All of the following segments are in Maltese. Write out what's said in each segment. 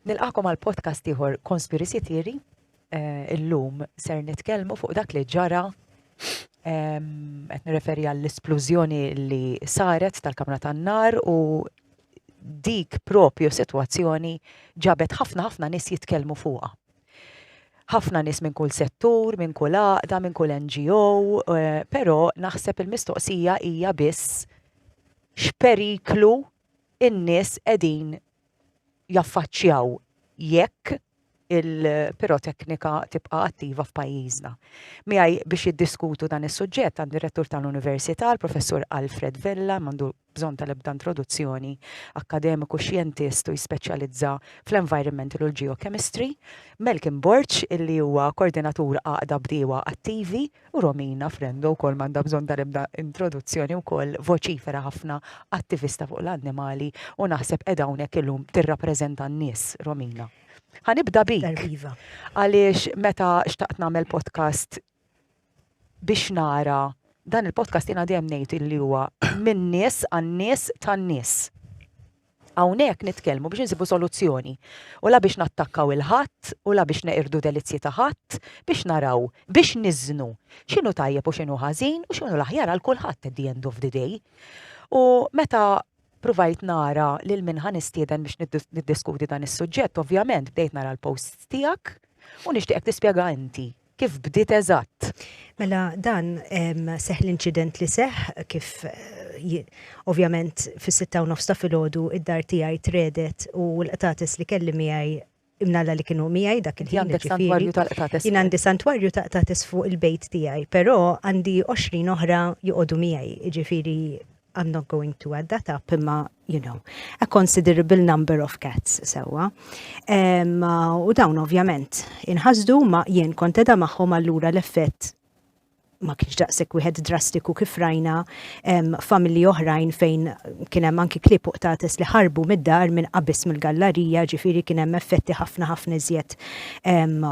Nilqakom għal podcast ieħor Conspiracy Theory. Eh, illum ser nitkellmu fuq dak li ġara qed nirreferi għall-isplużjoni li saret tal-kamra tan-nar u dik propju sitwazzjoni ġabet ħafna ħafna nies jitkellmu fuqha. Ħafna nies minn kull settur, minn kull għaqda, minn kull NGO, eh, però naħseb il-mistoqsija hija biss x'periklu in-nies qegħdin jaffaċċjaw jekk il-piroteknika tibqa' attiva f'pajjiżna. Miegħi biex jiddiskutu dan is-suġġett għandi r-Rettur tal-Università, l-Professur Alfred Vella, m'għandu bżonn tal-ebda introduzzjoni, akkademiku, xjentist u jispeċjalizza fl-environmental u l-geochemistry, Malcolm Borg, illi huwa Koordinatur Għaqda Bdiewa Attivi, U Romina Frendo wkoll m'għandha bżonn tal-ebda introduzzjoni wkoll voċifera ħafna, attivista fuq l-annimali u naħseb qiegħda hawnhekk illum tirrappreżenta n-nies, Romina. Ħa nibda bik. Darb' iva. Għaliex meta xtaqt nagħmel podcast biex nara dan il-podcast jiena dejjem ngħid illi huwa min-nies għan-nies tan-nies. Hawnhekk nitkellmu biex insibu soluzzjoni u la biex nattakkaw 'il ħadd u la biex neqirdu delizzji ta' ħadd, biex naraw, biex niżnu x'inhu tajjeb u x'inhu ħażin u x'inhu l-aħjar għal kulħadd at the end of the day. U meta pruvajt nara lil min ħa nistieden biex niddiskuti dan is-suġġett, ovvjament bdejt nara l-posts tiegħek u nixtieqek tispjega inti kif bdiet eżatt. Mela dan seħħ l-inċident li seħħ kif ovvjament fis-sitta u nofs ta' filgħodu id-dar tiegħi tredet u l-qtates li kelli miegħi imnalla li kienu miegħi dak il-ħin. Għandek santwarju ta' qtates. Jien għandi santwarju ta' qtates fuq il-bejt tiegħi, però għandi 20 oħra joqogħdu miegħi, jiġifieri I'm not going to add that up, imma, you know, a considerable number of cats, sewa. Um, u dawn ovvjament inħasdu ma jien konteda maħħom allura l-effett ma kienx daqsek wieħed drastiku kif rajna familji oħrajn fejn kien hemm anki klip uqtates li ħarbu mid-dar minn qabis mill-gallarija, ġifieri kien hemm effetti ħafna ħafna iżjed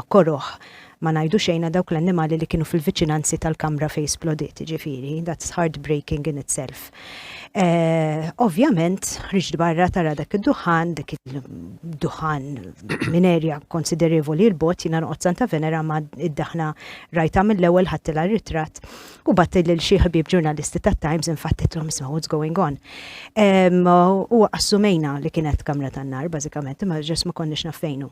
koroħ Ma ngħidu xejn għal dawk l-annimali li kienu fil-viċinanzi tal-kamra fejn splodiet, jiġifieri, that's heartbreaking in itself. Ovvjament, ħriġt barra tara dak id-duħħan, dak id-duħħan minn erja konsiderevoli l bogħod jiena noqgħod Santa Venera ma id-daħna rajtha mill-ewwel ħadtilha r-ritratt u bgħatt lil xi ħbieb ġurnalisti tat-Times infattitlhom isma' what's going on. U assumejna li kienet kamra tan-nar bażikament imma ġest ma konniex naf fejn hu.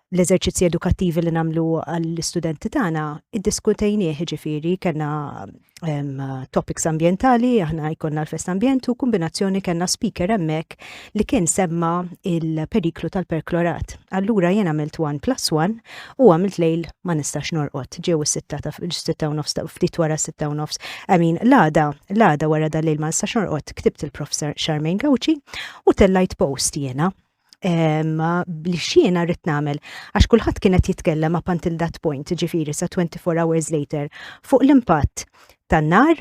l-eżerċizzi edukattivi li namlu għall-istudenti tagħna iddiskutejnieh ġifieri kellna topics ambientali, aħna jkollna l-fest ambjent u kombinazzjoni kellna speaker hemmhekk li kien semma il-periklu tal-perklorat. Allura jien għamilt 1 plus 1 u għamilt lejl ma nistax norqod ġew is-sitta ta' sitta u nofs ta' ftit wara sitta u nofs. Amin, l-għada, l-għada wara dal-lejl ma nistax norqod ktibt il-prof Charmaine Gawċi u tellajt post jiena li xiena rrit namel, għax kullħat kienet jitkellem up until that point, ġifiri sa 24 hours later, fuq l-impatt tan nar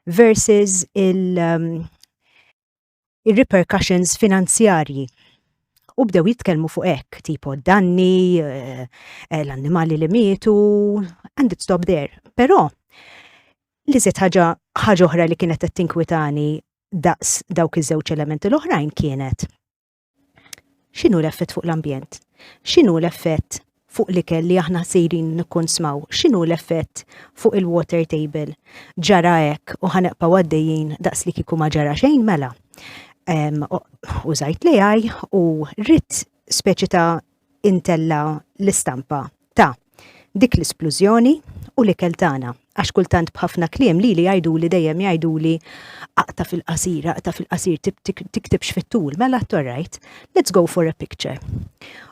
versus il- um, il-repercussions finanzjarji u bdew jitkellmu fuq hekk, tipo danni, eh, eh, l-annimali li mietu, and it stop there. Però, li zet ħaġa ħaġa oħra li kienet qed tinkwitani daqs dawk iż-żewġ elementi l-oħrajn kienet x'inhu l-effett fuq l-ambjent? X'inhu l-effett fuq l-ikel li aħna sejrin nikkonsmaw? X'inhu l-effett fuq il-water table? Ġara hekk u ħanqpa għaddejjin daqs li kieku ma ġara xejn mela. Użajt l-AI u rrit speċi ta' intella l-istampa ta' dik l-isplużjoni u l-ikel tagħna. Għax kultant b'ħafna kliem li li jgħiduli dejjem jgħiduli aqta fil-qasir, aqta fil-qasir tiktibx fit-tul, mela torrajt, let's go for a picture.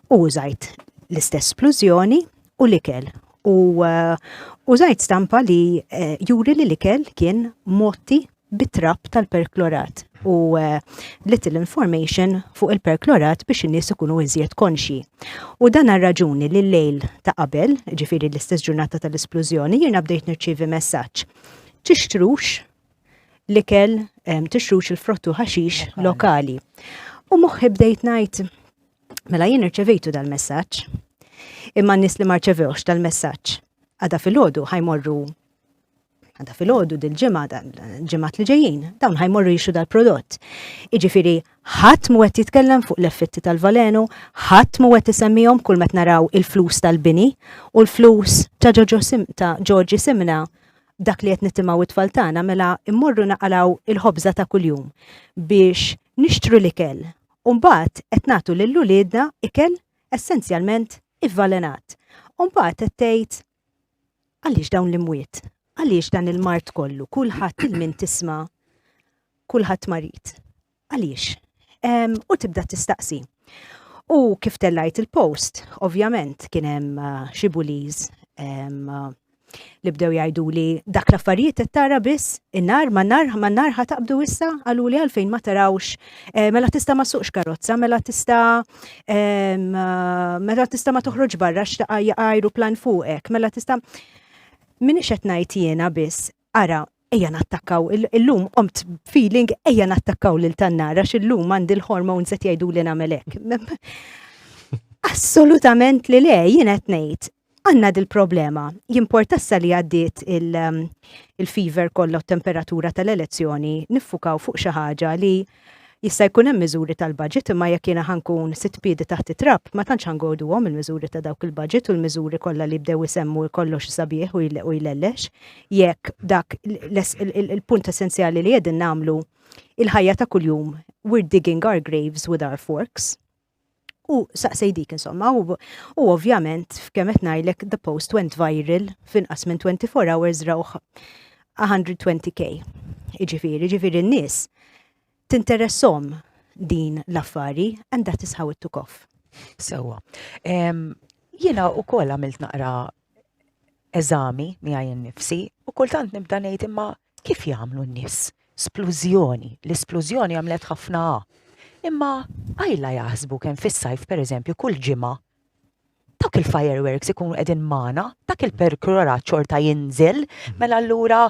U użajt l-istess splużjoni u l-ikel. U uh, użajt stampa li uh, juri li l-ikel kien motti bit-trab tal-perklorat u eh, little information fuq il-perklorat biex in-nies ikunu iżjed konxji. U dan għar-raġuni li l-lejl ta' qabel, ġifiri l-istess ġurnata tal-isplużjoni, jiena bdejt nirċievi messaġġ. Tixtrux l-ikel, eh, tixtrux il-frottu ħaxix lokali. U moħħi bdejt ngħid, mela jien irċevejtu dal-messaġġ. Imma n-nies li marċevewx tal-messaġġ għada fil-ħodu ħajmorru għanda fil-ħodu dil-ġimma, ġimmat li ġejjin, dawn ħajmorru jixu dal-prodott. Iġifiri, ħadd mu għet jitkellem fuq l-effetti tal-valenu, ħadd mu għet jisemmijom kull met naraw il-flus tal-bini u l-flus ta' ġoġi simna dak li għet nittimaw it-tfal tagħna mela immorru naqalaw il-ħobza ta' kuljum biex nixtru l-ikel. Umbat qed nagħtu lil uliedna ikel essenzjalment ivvalenat. Umbat qed tgħid Għaliex dawn l-imwiet? Għaliex dan il-mard kollu? Kulħadd il-min tisma' kulħadd marid. Għaliex? U tibda tistaqsi. U kif tellajt il-post, ovvjament kien hemm uh, xi buliz um, uh, li bdew jgħidu li dak l-affarijiet qed tara biss in-nar ma nar ma nar ħataqbdu issa qalu li għalfejn ma tarawx Eh, mela tista ma suqx karozza, mela tista eh, mela tista ma toħroġ barra xtaqa jaqajru plan fuqek, mela tista minni xet najt jena biss, ara, ejja nattakkaw, il-lum omt feeling ejja nattakkaw lil tannara, xil-lum għandi l-hormones qed jgħidu li namelek. Assolutament li le, jien qed ngħid, għanna dil-problema. Jimportassa li għaddiet il-fever kollha temperatura tal-elezzjoni niffukaw fuq xi ħaġa li jista' jkun hemm miżuri tal-budget imma jekk jiena ħankun sitt piedi taħt it-trab ma tantx ħangoduhom il-miżuri ta' dawk il-budget u l-miżuri kollha li bdew isemmu kollox sabiħ u jlellex jekk dak il-punt essenzjali li qegħdin nagħmlu il-ħajja ta' kuljum we're digging our graves with our forks. U saqsej dik insomma, u, u ovvjament f'kemm qed ngħidlek the post went viral f'inqas minn 24 hours rawh 120k. Iġifieri, ġifieri n-nies tinteressom din l-affari and that is how it took off. Sewa. Jiena u koll għamilt naqra eżami miegħi nnifsi u kultant nibda ngħid imma kif jagħmlu n-nies? Splużjoni, l-isplużjoni għamlet ħafna A. Imma għajla jaħsbu kemm fis-sajf pereżempju kull ġimgħa dak il-fireworks ikunu qegħdin magħna, dak il-perkurora ċorta jinżel, mela allura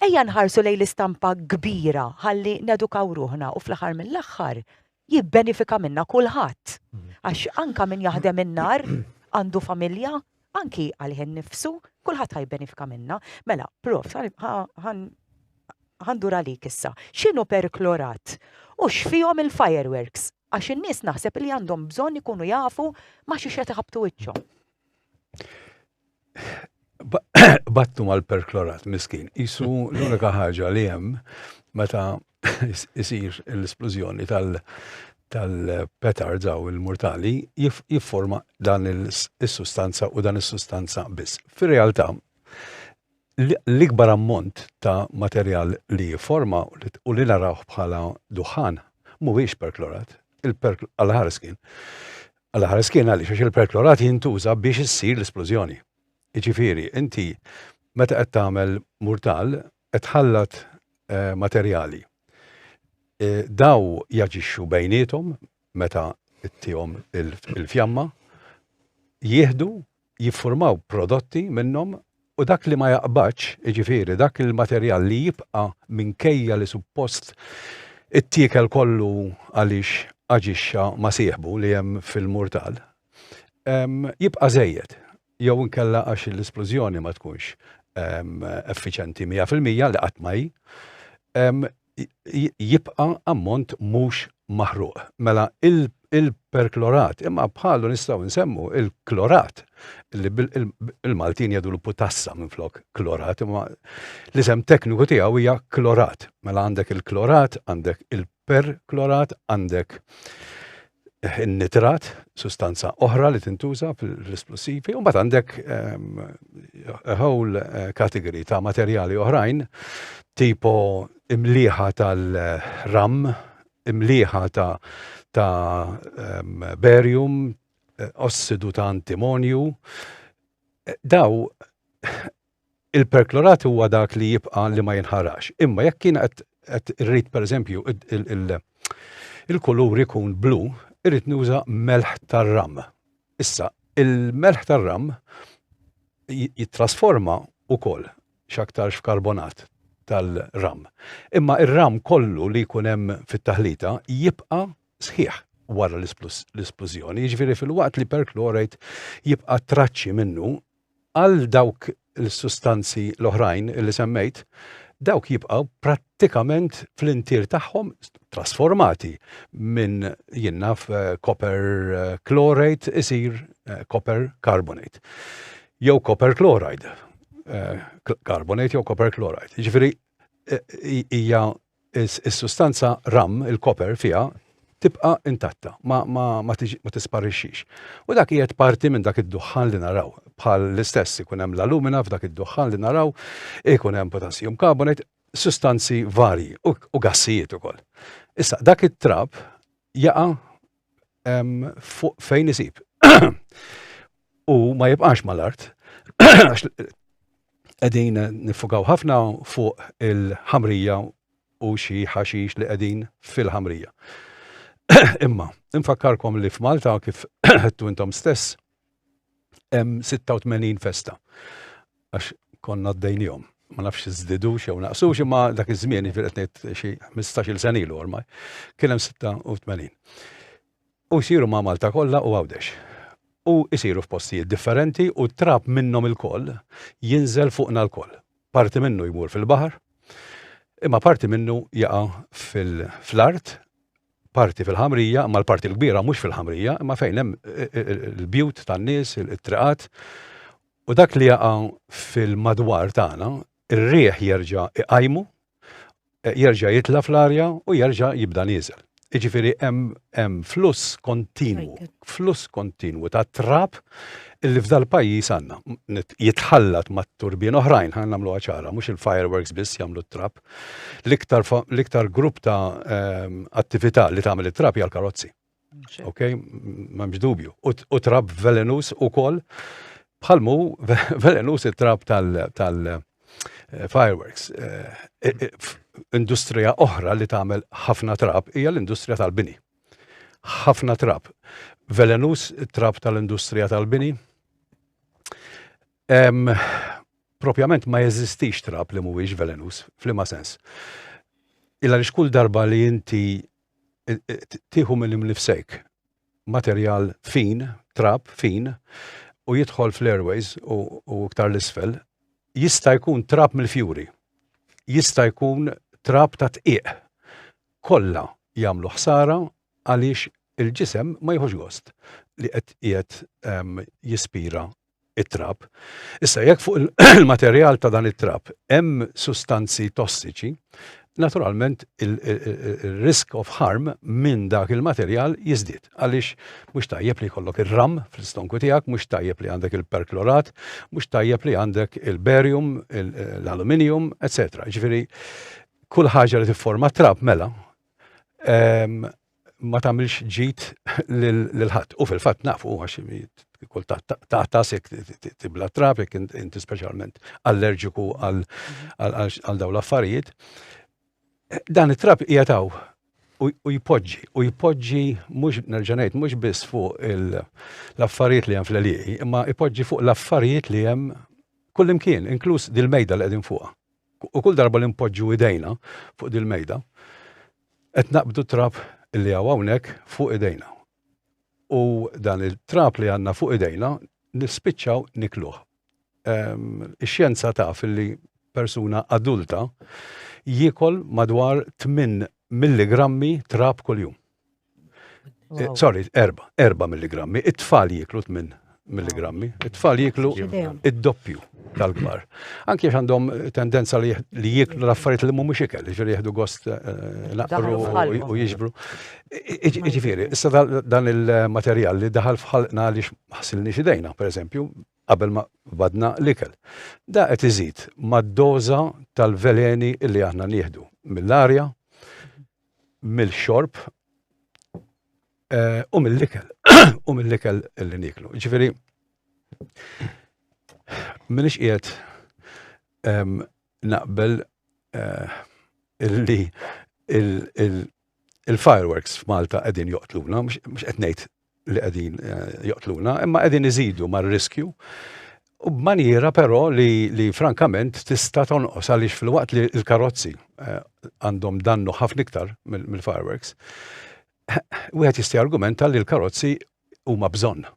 ejja nħarsu lejn l-istampa kbira ħalli nedukaw ruħna u fl-aħħar mill-aħħar jibbenifika minnha kulħadd għax anke min jaħdem in-nhar għandu familja anki għalih innifsu kulħadd ħa jibbenifika minnha. Mela, prof, ħandur għalik issa. X'inhu perklorat u x'fihom il-fireworks? Għax in-nies naħseb li għandhom bżonn ikunu jafu ma xi qed iħabbtu wiċċhom. battu mal-perklorat miskin. Isu l-unika ħaġa li hemm meta isir l-esplużjoni tal- tal-petard daw il-mortali jifforma dan il-sustanza u dan il-sustanza biss. Fir-realtà, l-ikbar ammont ta' materjal li jifforma u li narawh bħala duħan mhuwiex perklorat, il-perklorat għal-ħarskin. Għal ħares kien għaliex għax il-perklorat jintuża biex issir l-isplużjoni. Jiġifieri, inti meta qed tagħmel murtal qed tħallat eh, materjali. Eh, daw jaġixxu bejniethom meta ttihom il-fjamma, jieħdu jiffurmaw prodotti minnhom u dak li ma jaqbadx, jiġifieri dak il-materjal li jibqa' minkejja li suppost ittiekel kollu għaliex aġixxa ma' sieħbu li hemm fil-murtal, jibqa' żejjed jew inkella għax l-isplużjoni ma tkunx effiċjenti mija fil-mija, li qatt ma hi, jibqa' ammont mhux maħruq. Mela il-perklorat, imma bħalu nistgħu nsemmu il-klorat, li il-Maltin jgħidulu putassa minflok klorat, imma l-isem tekniku tiegħu hija klorat. Mela għandek il-klorat, għandek il-perklorat, għandek in-nitrat, sustanza oħra li tintuża fl-isplussivi, u mbagħad għandek ehm, a whole eh, category ta' materjali oħrajn, tipo imliħa tal-ram, imliħa ta' ta' ehm, barium, eh, ossidu ta' antimonju. Eh, daw Il-perklorat huwa dak li jibqa' li ma jinħarax. Imma jekk jiena qed irrid pereżempju il-kulur ikun blu, irrid nuża melħ tar-ram. Issa, il-melħ tar-ram jittrasforma wkoll x'aktarx f'karbonat tal-ram. Imma r-ram kollu li jkun hemm fit-taħlita jibqa' sħiħ wara l-isplużjoni, jiġifieri filwaqt li perchlorate jibqa' traċċi minnu għal dawk il-sustanzi l-oħrajn li semmejt, dawk jibqgħu prattikament fl-intier tagħhom trasformati minn jinnaf copper eh, chlorate isir eh, copper carbonate. Jew copper chloride, eh, carbonate jew copper chloride. Ġifieri hija is-sustanza ram, il-koper fiha, tibqa' intatta, ma tisparixxix. U dak qiegħed parti minn dak id-duħħan li naraw. Bħal l-istess ikun hemm l-alumina f'dak id-duħħan li naraw, ikun hemm potassium carbonate, sustanzi varji u gassijiet ukoll. Issa, dak it-trab jaqa' fuq fejn isib. U ma jibqax mal-art, għax qegħdin nifukaw ħafna fuq il-ħamrija u xi ħaxix li qegħdin fil-ħamrija. Imma, infakkarkom li f'Malta kif għedtu intom stess, hemm 86 festa. Għax konna d-dejnijom. Ma nafx zdidu xew naqsu xi ma dak iż-żmien jiġifieri qed ngħid xi 15-il sen ilu ormai. Kien hemm 86. U jsiru ma' Malta kollha u Għawdex. U jsiru f'postijiet differenti u t-trab minnhom ilkoll jinżel fuqna lkoll. Parti minnu jmur fil-baħar, imma parti minnu jaqa' fl-art parti fil-ħamrija, imma l-parti l-kbira mhux fil-ħamrija, imma fejn hemm il-bjut tan-nies, it-triqat, u dak li jaqa' fil-madwar tagħna, ir-riħ jerġa' iqajmu, e, jerġa' jitla fl-arja u jerġa' jibda nieżel. Iġifiri hemm fluss kontinwu, fluss kontinwu ta' trab illi f'dal pajjiż għandna. Jitħallat mat-turbin oħrajn, ħan nagħmlu ċara, mhux il-fireworks biss jagħmlu t-trab. L-iktar, l-iktar grupp ta' ehm, attività li tagħmel it-trab hija l-karozzi. Ok, m'hemmx dubju. U trab velenus ukoll bħalmu velenus it-trab tal- Eh, fireworks. Eh, eh, industrija oħra li tagħmel ħafna trab hija l-industrija tal-bini. Ħafna trab. Velenus trab tal-industrija tal-bini. propjament ma jeżistix trab li mhuwiex velenuż, f'liema sens. Illa li xkull darba li inti eh, eh, tieħu minn imnifsek materjal fin, trab fin, u jidħol fl-airways u iktar l-isfel, jista' jkun trab mill-fjuri, jista' jkun trab ta' tqiq. Kollha jagħmlu ħsara għaliex il-ġisem ma jħux gost li qed qiegħed ehm, jispira it-trab. Issa jekk fuq il-materjal ta' dan it-trab hemm sustanzi tossiċi, naturalment il-risk of harm minn dak il-materjal jizdit. Għaliex mhux tajjeb li jkollok ir-ram fl-istonku tiegħek, mhux tajjeb li għandek il-perklorat, mhux tajjeb li għandek il-barium, l-aluminium, etc. Ġifieri kull ħaġa li tifforma trab mela ehm, ma tagħmilx ġid lil ħadd. U fil-fatt nafu għax kull ta' tasek tibla trafik inti speċjalment allerġiku għal dawn l-affarijiet. Dan it-trab jataw u jpoġġi, u jpoġġi mhux nerġanajt, mhux biss fuq l-affarijiet li hemm fl-għalieqi, imma jpoġġi fuq l-affarijiet li hemm kullimkien, inkluż dil-mejda li qegħdin fuqha. U kull darba li npoġġu idejna fuq dil-mejda, Qed naqbdu t-trab li hawn hawnhekk fuq idejna. U dan it-trab li għandna fuq idejna nispiċċaw nikluh. Ix-xjenza taf li persuna adulta jiekol madwar tmien milligrammi trab kuljum. Eh, sorry, erba, erba milligrammi. It-tfal jiklu 8 milligrammi. It-tfal jiklu id-doppju tal-kbar. Anki għax għandhom tendenza li jiklu l-affarijiet li mhumiex ikel, ġifieri jieħdu gost eh, naqru u jiġbru. Ġifieri, issa dan il-materjal li daħal fħalqna li ħsilni xidejna, per eżempju, qabel ma badna l-ikel. Da qed iżid mad-doża tal-veleni li aħna nieħdu mill-arja, mill-xorb u mill-ikel, u mill-ikel li niklu. Ġifiri, minix qiegħed naqbel illi il-fireworks f'Malta qegħdin joqtluna, mhux qed ngħid li qegħdin joqtluna, imma qegħdin iżidu mar-riskju U b'manjera però li, li frankament tista' tonqos għaliex fil-waqt li l-karozzi eh, għandhom dannu ħafna iktar mill-fireworks, wieħed jista' argumenta li l-karozzi huma bżonn.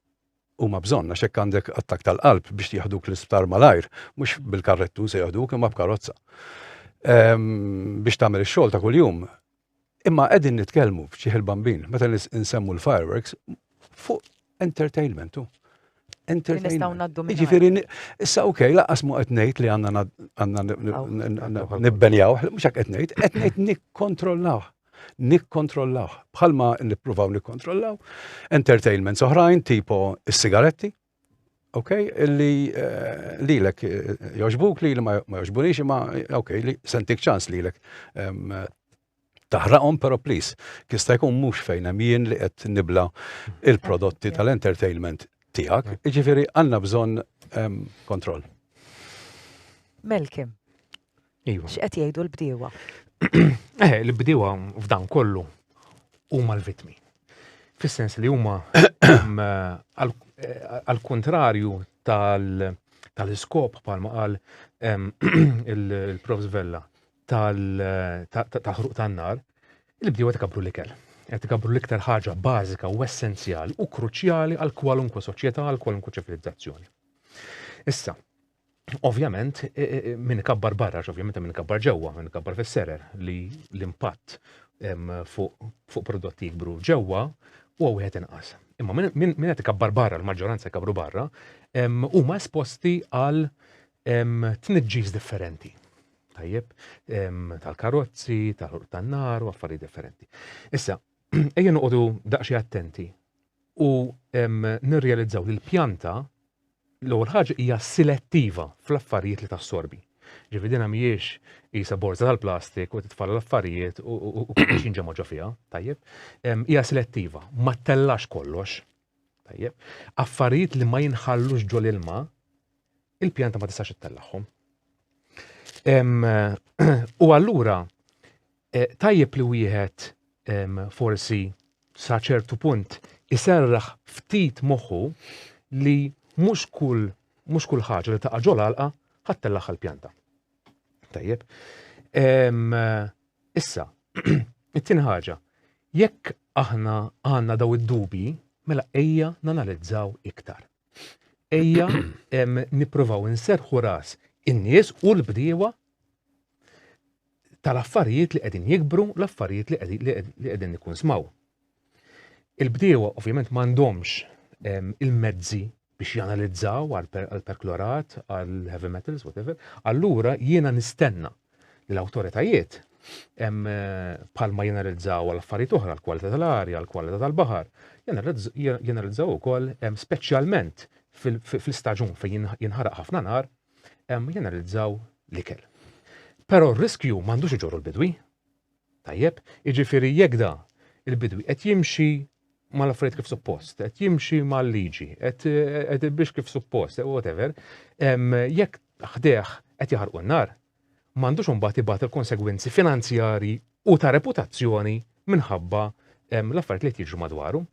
Huma bżonn għax hekk għandek attak tal-qalb biex jaħduk l-isptar malajr, mhux bil-karrettu se jaħduk imma b'karozza. Ehm, biex tagħmel ix-xogħol ta' kuljum, Imma qegħdin nitkellmu f'ċieħ il-bambin, meta nsemmu l-fireworks, fuq entertainment u. Entertainment. Ġifieri, issa ok, laqas mu qed ngħid li għandna nibbenjaw, mhux hekk qed ngħid, qed ngħid nikkontrollaw. Nikkontrollaw. Bħalma nippruvaw nikkontrollaw entertainment oħrajn tipo s-sigaretti, Ok, li lilek joġbuk li ma joġbunix imma ok, li sentik ċans lilek taħraqhom, pero please, kista jkun mhux fejn hemm jien li qed nibla il-prodotti tal-entertainment tiegħek, jiġifieri għandna bżonn kontroll. Melkim. Iva. X'qed jgħidu l-bdiewa? Eh, l-bdiewa f'dan kollu huma l-vitmi. Fis-sens li huma għal-kontrarju tal-iskop palma qal il-Prof Vella tal-ħruq tan-nar, il-bdiewa tkabru l-ikel qed ikabru l-iktar ħaġa bażika u essenzjali u kruċjali għal kwalunkwe soċjetà, għal kwalunkwe ċivilizzazzjoni. Issa, Ovvjament, e, e, e, minn kabbar barra, ovvjament minn kabbar ġewwa, minn kabbar fis-serer li l-impatt fuq prodotti jikbru ġewwa u wieħed inqas. Imma minn qed ikabbar barra, l-maġġoranza jkabru barra, huma esposti għal tniġġis differenti. Tajjeb, tal-karozzi, tal-ħurq tan-nar u affarijiet differenti. Issa, ejja noqogħdu daqsxi attenti u nirrealizzaw li l-pjanta l-ewwel ħaġa hija selettiva fl-affarijiet li tassorbi. Ġifi dina mhijiex isa borza tal-plastik u titfalla l-affarijiet u xi ġemoġa fiha, tajjeb. Hija selettiva, ma tellax kollox. Tajjeb. Affarijiet li ma jinħallux ġol ilma, il-pjanta ma tistax ittellagħhom. U allura Tajjeb li wieħed forsi sa ċertu punt iserraħ ftit moħħu li mhux kull mhux kull ħaġa li taqa' ġol għalqa ħadd tellagħha l-pjanta. Tajjeb. Issa, it-tieni ħaġa, jekk aħna għandna daw id-dubi, mela ejja nanalizzaw iktar. Ejja nippruvaw inserħu ras in-nies u l-bdiewa tal-affarijiet li qegħdin jikbru, l-affarijiet li qegħdin nikkunsmaw. Il-bdiewa ovvjament m'għandhomx ehm, il-mezzi biex janalizzaw għal-perklorat, għal-heavy metals, whatever, allura jiena nistenna li l-autoritajiet palma eh, jenalizzaw għal-affarijiet oħra, l-kwalità tal-arja, l-kwalità tal-bahar, jenalizzaw u koll specialment fil-staġun fejn jinħaraq ħafna nar, jenalizzaw l-ikel. Però r-riskju m'għandux iġorru l-bidwi. Tajjeb, jiġifieri jekk da il-bidwi qed jimxi mal-affarijiet kif suppost, qed jimxi mal-liġi, qed biex kif suppost, whatever, jekk ħdeħ qed jaħarqu n-nar, ma għandux imbagħad ibati l-konsegwenzi finanzjarji u ta' reputazzjoni minħabba l-affarijiet li qed jiġru madwaru.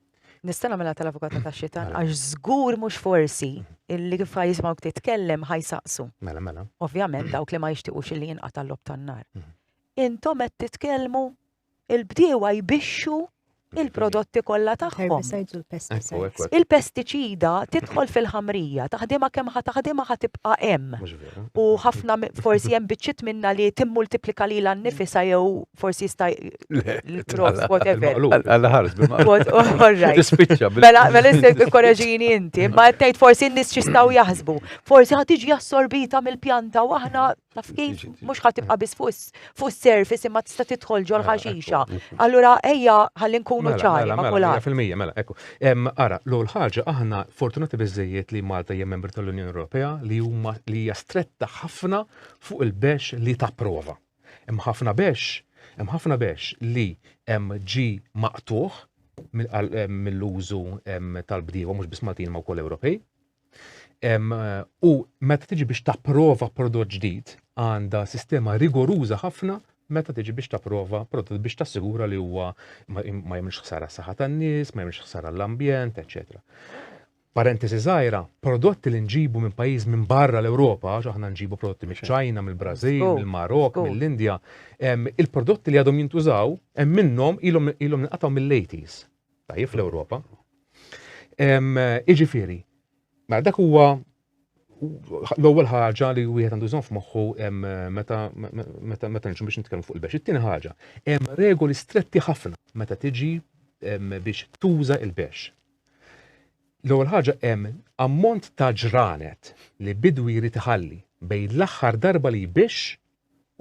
Nista' nagħmilha tal-avukat ta' xitan mela. għax żgur mhux forsi illi kif ħajsmgħu titkellem ħajsaqsu. Mela mela. Ovvjament dawk li ma jixtiequx illi jinqata' l-lob tan-nar. Mhm. Intom qed titkellmu il-bdiewa jbixxu il-prodotti kollha tagħhom. Il-pestiċida tidħol fil-ħamrija, taħdimha kemm ħa taħdimha ħa tibqa' hemm. U ħafna forsi hemm biċċiet minna li timmultiplika li l-annifisa jew forsi jista' l-prof, whatever. Mela, mela issek il-koraġini inti, ma tgħid forsi n-nies x'jistgħu jaħsbu. Forsi ħad tiġi assorbita mill-pjanta u aħna Taf kif? Mhux ħadd tibqa' biss fuq is-surface imma tista' tidħol ġol mela, ħaxixa. Allura ejja ħalli nkunu mela, ċari mela, ma' kulħadd. Fil-mija, mela, ekku. Ara, l-ewwel ħaġa aħna fortunati biżejjed li Malta hija membru tal-Unjoni Ewropea li huma li hija stretta ħafna fuq il-bex li tapprova. Hemm ħafna bex, hemm ħafna bex li hemm ġi maqtuħ mill-użu tal-bdiewa mhux biss Maltin ma' wkoll Ewropej. U meta tiġi biex tapprova prodott ġdid, għandha sistema rigoruża ħafna meta tiġi biex tapprova prodott biex tassigura li huwa ma jemx ħsara saħħa tan-nies, ma jemx ħsara l-ambjent, eċetera. Parentesi żgħira, prodotti li nġibu minn pajjiż minn barra l-Ewropa, għax aħna nġibu prodotti miċ-Ċajna, mill-Brażil, mill-Marok, mill-Indja, il-prodotti li għadhom jintużaw hemm minnhom ilhom nqatgħu mill-80s. Tajjeb fl-Ewropa. Iġifieri, mela dak huwa l-ewwel ħaġa li wieħed għandu jżomm f'moħħu meta meta meta nġu biex nitkellmu fuq il-bex. It-tieni ħaġa, hemm regoli stretti ħafna meta tiġi biex tuża il-bex. L-ewwel ħaġa hemm ammont ta' ġranet li bidwi jrid iħalli bejn l-aħħar darba li jbix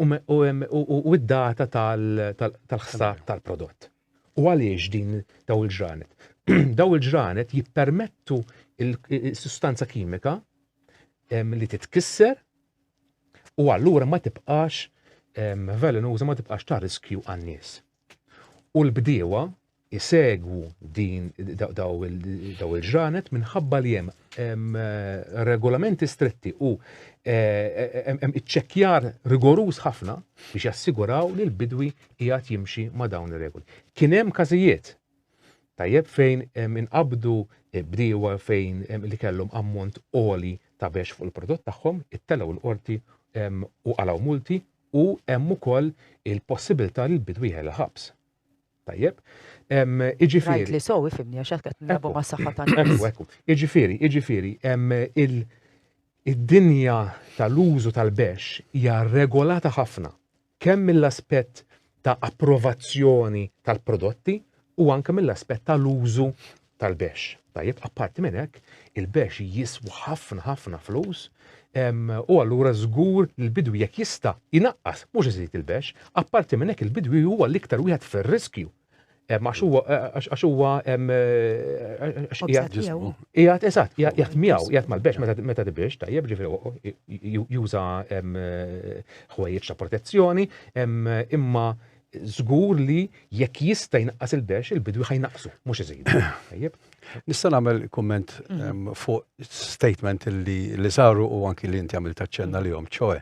u id-data tal-ħsad tal-prodott. U għaliex din daw il-ġranet? Daw il-ġranet jippermettu il-sustanza kimika li titkisser u allura ma tibqax velenuża ma tibqax ta' riskju għan-nies. U l-bdiewa jsegwu din daw il-ġranet minħabba li hemm regolamenti stretti u hemm iċċekkjar rigoruż ħafna biex jassiguraw li l-bidwi qiegħed jimxi ma' dawn ir-regoli. Kien hemm każijiet tajjeb fejn inqabdu bdiewa fejn li kellhom ammont għoli ta' bex fuq il-prodott tagħhom, ittelgħu l-qorti u qalgħu multi u hemm ukoll il-possibilità li l-bidwi jħela ħabs. Tajjeb. Iġifieri. Rajt li sowi fimni għax qed nilagħbu ma' saħħa ta' Ekku, ekku. Iġifieri, iġifieri, id-dinja tal-użu tal-bex hija regolata ħafna kemm mill-aspett ta' approvazzjoni tal-prodotti u anke mill-aspett tal-użu tal-bexx. Tajjeb, apparti minn hekk, il-bexx jiswa ħafna ħafna flus u allura żgur li l-bidwi jekk jista' jnaqqas mhux iżid il-bexx, apparti minn hekk il-bidwi huwa l-iktar wieħed fir-riskju għax huwa għax huwa qiegħed eżatt, qiegħed miegħu, qiegħed mal-bex meta tibiex, tajjeb ġifieri juża ħwejjeġ ta' protezzjoni, imma żgur li jekk jista' jnaqqas il-bex, il-bidwi ħaj naqsu, mhux iżidu. Tajjeb? Nista' nagħmel kumment mhm. fuq statement li li saru u anki li inti għamil taċċenna mhm. li jom, ċoe,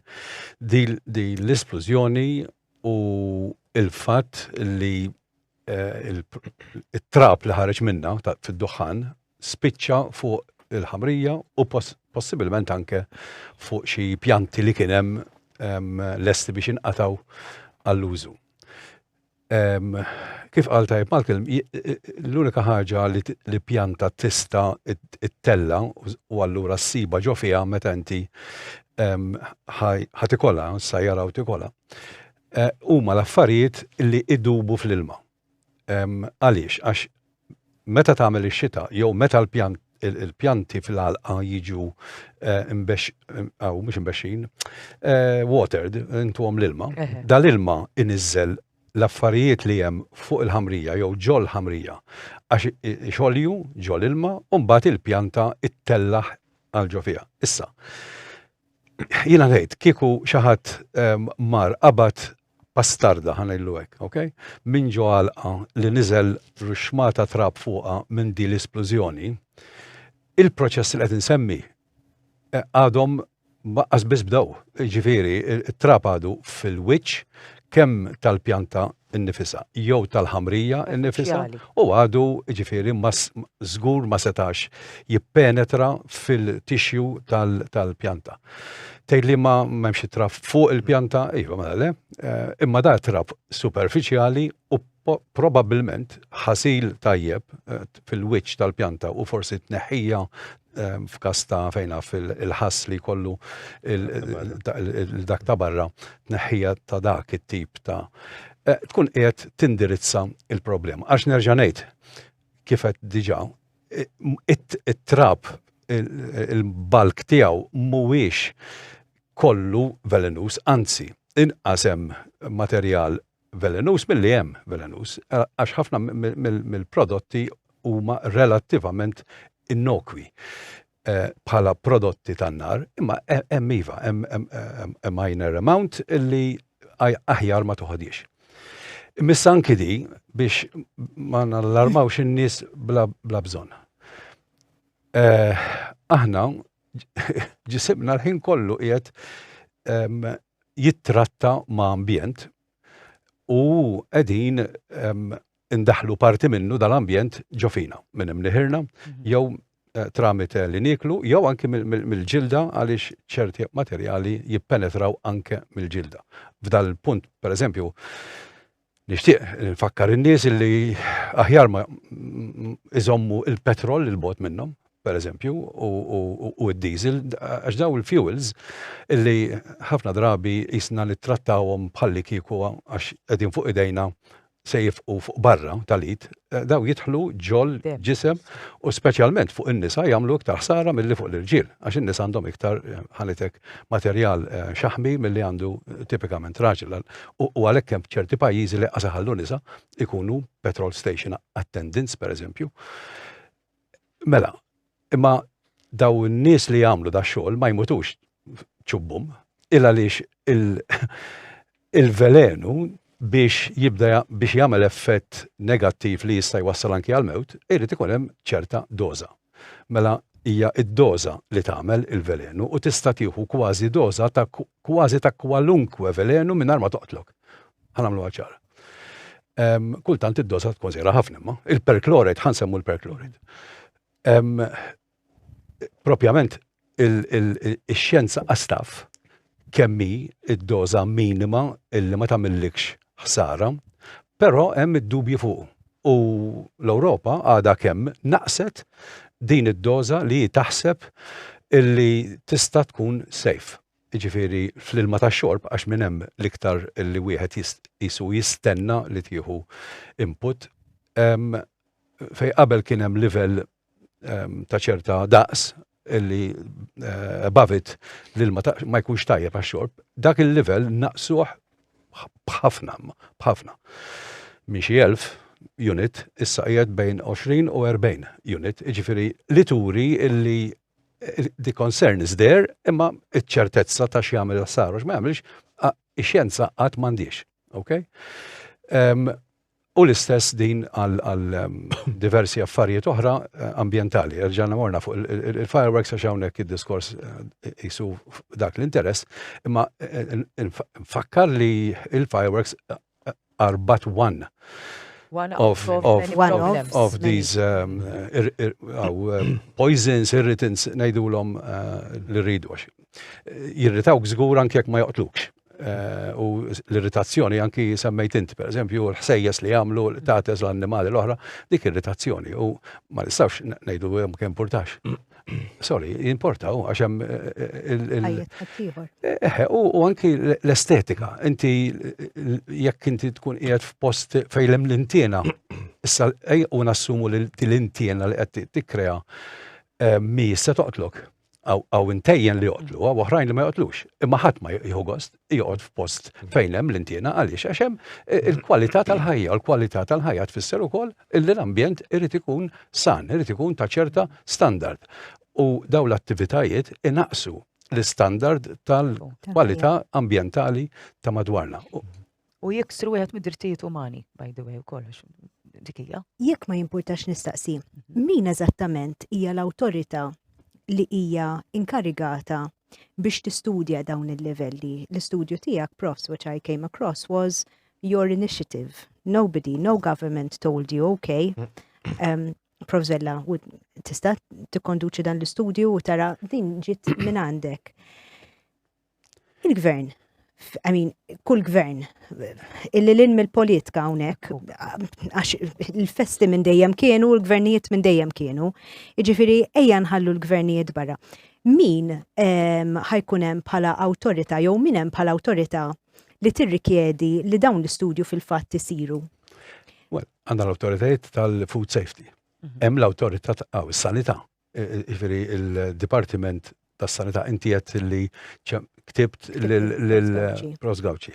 di l-isplużjoni u il-fatt li eh, il-trap li ħareġ minna fid-duħan spiċċa fuq il-ħamrija u possibilment anke fuq xi pjanti li kien hemm ehm, lesti biex inqataw għall-użu. Ehm, kif qal tajb Malcolm, l-unika ħaġa li pjanta tista it-tella u allura s-siba ġo fija meta inti ehm, ħatikola, sajjara u tikola, eh, huma l-affarijiet li idubu fl-ilma. Għaliex? Għax meta tagħmel ix-xita jew meta l-pjanti fil-għalqa jiġu eh, imbex, għaw, mux imbexxin, eh, watered, intu għom l-ilma, dal-ilma inizzel l-affarijiet li jem fuq il-ħamrija jew ġol ħamrija għax xolju ġol ilma un bat il-pjanta it-tellaħ għal ġo fija. Issa, Jiena ngħid kieku xi ħadd ehm, mar qabad bastarda ħanajlu hekk, ok? Min ġo għalqa li niżel ruxmata trab fuqa minn di l-isplużjoni, il-proċess li qed insemmi eh, għadhom baqqas biss bdew. Ġifieri, it-trab għadu fil-wiċċ kemm tal-pjanta innifisha jew tal-ħamrija innifisha u għadu ġifieri żgur ma setax jippenetra fil-tixju tal-pjanta. Tgħid li ma m'hemmx traf fuq il-pjanta, iva mela le, eh, imma da traf superfiċjali u probabbilment ħasil tajjeb eh, fil-wiċċ tal-pjanta u forsi tneħħija Ehm, f'kas ta' fejn naf il-ħass li jkollu dak ta' barra tneħħija ta' dak it-tip ta' eh, tkun qiegħed tindirizza il-problema. Għax nerġa' ngħid kif qed diġà it-trab il-balk tiegħu mhuwiex kollu velenus, anzi inqas hemm materjal velenuż milli hemm velenuż, għax ħafna mill-prodotti huma relattivament innokwi bħala prodotti tan-nar, imma hemm iva, hemm minor amount li aħjar ma toħodhiex. Imissa anki din biex ma nallarmawx in-nies bla bżonn. Aħna ġisimna l-ħin kollu qiegħed jittratta ma' ambjent u qegħdin indaħlu parti minnu dal-ambjent ġofina minn hemm liħirna mhm. jew eh, tramite li niklu jew anke mill-ġilda għaliex ċerti materjali jippenetraw anke mill-ġilda. F'dal punt, per eżempju, Nixtieq nfakkar in-nies li aħjar ma iżommu il-petrol il bot minnhom, pereżempju, u d-diesel, għax daw il-fuels illi ħafna drabi jisna nittrattawhom bħalli kieku għax qegħdin fuq idejna se jifqu fuq barra tal-id, daw jidħlu ġol ġisem u speċjalment fuq in-nisa jagħmlu iktar ħsara milli fuq l-irġiel, għax in-nisa għandhom iktar ħanitek materjal xaħmi milli għandu tipikament raġel. u għalhekk hemm ċerti pajjiżi li qas iħallu nisa ikunu petrol station attendants pereżempju. Mela, imma daw in-nies li jagħmlu da xogħol ma jmutux ċubbum, il għaliex il-velenu biex jibda biex jagħmel effett negattiv li jista' jwassal anki għal mewt, irid ikun hemm ċerta doża. mela hija d-doża li tagħmel il-velenu u tista' tieħu kważi doża ta' kważi ta' kwalunkwe velenu mingħajr ma toqtlok. Ħa nagħmluha ċara. Ehm, kultant id-doża tkun żgħira ħafna imma il-perchlorate ħansemmu l-perchlorate. Ehm, propjament Ix-xjenza qas taf kemm hi d-doża minima illi ma tagħmillikx ħsara, però hemm id-dubji fuqu. U l-Ewropa għadha kemm naqqset din id-doża li hi taħseb illi tista' tkun safe. Jiġifieri fl-ilma tax-xorb għax minn hemm l-iktar li wieħed qisu jistenna li tieħu input. Fejn qabel kien hemm livell ehm, ta' ċerta daqs li eh, above it l-ilma ma jkunx tajjeb għax-xorb, dak il-livell naqsuh bħafna, bħafna. Minn xi elf unit issa qiegħed bejn 20 u 40 unit, jiġifieri li turi illi eh, the concern is there, imma iċ-ċertezza ta' x'jagħmel s-saru x'ma jagħmilx, ix-xjenza qatt m'għandix. Okay? Um, U l-istess din għal diversi affarijiet oħra ambjentali. Erġajna morna fuq il-fireworks għax hawnhekk id-diskors qisu dak l-interess, imma nfakkar li il-fireworks are but one of these poisons, irritants, ngħidulhom li rridu għax jirritawk żgur anke jekk ma joqtlukx. Eh, u l-irritazzjoni anki semmejt inti, per eżempju, l-ħsejjes li għamlu tateż l-annimali l-oħra, dik irritazzjoni u ma nistawx nejdu jem kem portax. Sorry, importaw, għaxem eh, eh, u anki l-estetika, inti jekk inti tkun qiegħed f'post fejlem l-intiena, issa u nassumu l-intiena li qed tikkrea mi se toqtlok. għaw intejjen li joqtlu, għaw oħrajn li ma joqtlux. Imma ħadd ma jieħu gost joqgħod f'post fejn hemm l-intiena għaliex għax hemm eh, il-kwalità tal-ħajja, u l-kwalità tal-ħajja tfisser ukoll illi l-ambjent irid ikun san, irid ikun ta' ċerta standard. U daw l-attivitajiet inaqsu l-standard tal-kwalità ambjentali ta' madwarna. U jiksru wieħed mid-drittijiet umani, by the way, u kollox, dikija. Jekk ma jimpurtax nistaqsi, mhm. min eżattament hija l-awtorità li hija inkarigata biex tistudja dawn il-livelli? L-istudju tiegħek, profs, which I came across, was your initiative. Nobody, no government told you, okay. Um, Prof. Zella, tista' tikkonduċi dan l-istudju u tara din ġiet minn għandek. Il-gvern, I mean, kull gvern, illi l-in mill-politika hawnhekk, għax il-festi minn dejjem kienu, l-gvernijiet minn dejjem kienu, jiġifieri ejja nħallu l-gvernijiet barra. Min ehm, ħajkun hemm bħala awtorità jew min hemm bħala awtorità li tirrikjedi li dawn l-istudju fil-fatt isiru? Well, għandna l-awtoritajiet tal-food safety. Mhm. Hemm l-awtorità ta' sanità. jiġifieri l-Dipartiment tas-Sanità, inti għedt li ktibt lil Prost Gawċi.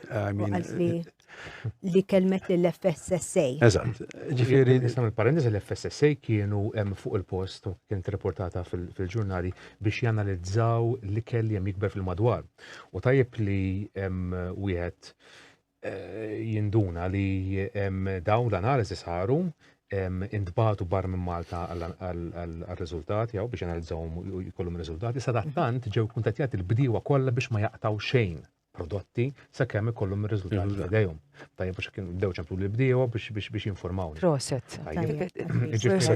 Li kelmet lil FSSA. Eżatt. Ġifieri nisem il-parentesi l-FSSA kienu hemm fuq il-post kienet reportata fil-ġurnali biex janalizzaw l-ikel li hemm jikber fil-madwar. U tajjeb li wieħed jinduna li dawn l-analiżi saru intbatu bar minn Malta għal-riżultati għaw biex analizzawhom u jkollhom riżultati. Sadattant ġew kuntatjati l-bdiewa kollha biex ma jaqtaw xejn prodotti sa kemm ikollhom ir-riżultati f'idejhom. Tajjeb biex kien bdew ċemplu l bdiewa biex jinformaw. Proset.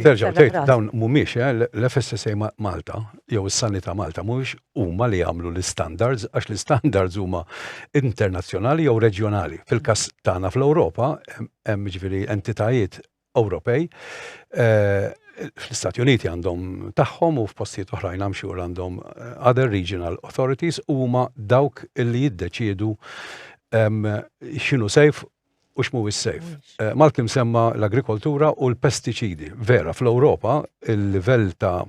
Terġaw tgħid dawn mhumiex eh, l-FSSA Malta jew is-Sanità Malta mhumiex huma li jagħmlu l-istandards għax l-istandards huma internazzjonali jew reġjonali. Fil-każ tagħna fl-Ewropa hemm ġifieri entitajiet Ewropej eh, fl-Istati Uniti għandhom tagħhom u f'postijiet oħrajn hemm xhur għandhom eh, other regional authorities huma dawk li jiddeċiedu x'inhu sejf u x'mhuwiex safe. Malcolm semma l-agrikoltura u l-pestiċidi. Vera, fl-Ewropa il-livell ta'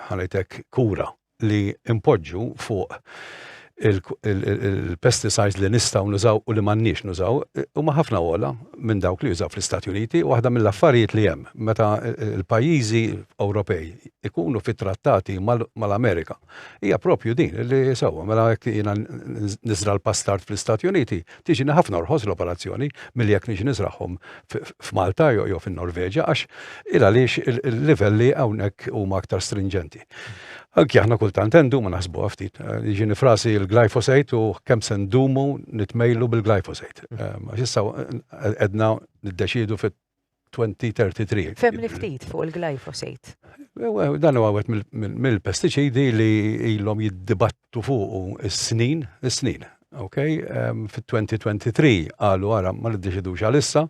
ħanejtek kura li impoġġu fuq il-pesticides li nistgħu nużaw u li m'għandniex nużaw huma ħafna ogħla minn dawk li jużaw fl-Istati Uniti u waħda mill-affarijiet li hemm meta l-pajjiżi Ewropej ikunu fi trattati mal-Amerika Hija propju din li sewwa mela jekk jiena niżra l-pastard fl-Istati Uniti, tiġini ħafna orħos l-operazzjoni milli jekk niġi niżragħhom f'Malta jew fin-Norveġja għax il għaliex il-livelli hawnhekk huma aktar strinġenti. Anki aħna kultant endu ma naħsbuha ftit. Jiġi nifrasi l-glyphosate u kemm se ndumu nitmejlu bil-glyphosate. Għax issa qedna niddeċiedu fit 2033. Fehmni ftit fuq il-glyphosate. Dan huwa wieħed mill-pestiċidi li ilhom jiddibattu fuqu s-snin, is-snin. Ok, fit-2023 qalu ara ma niddeċidux għalissa.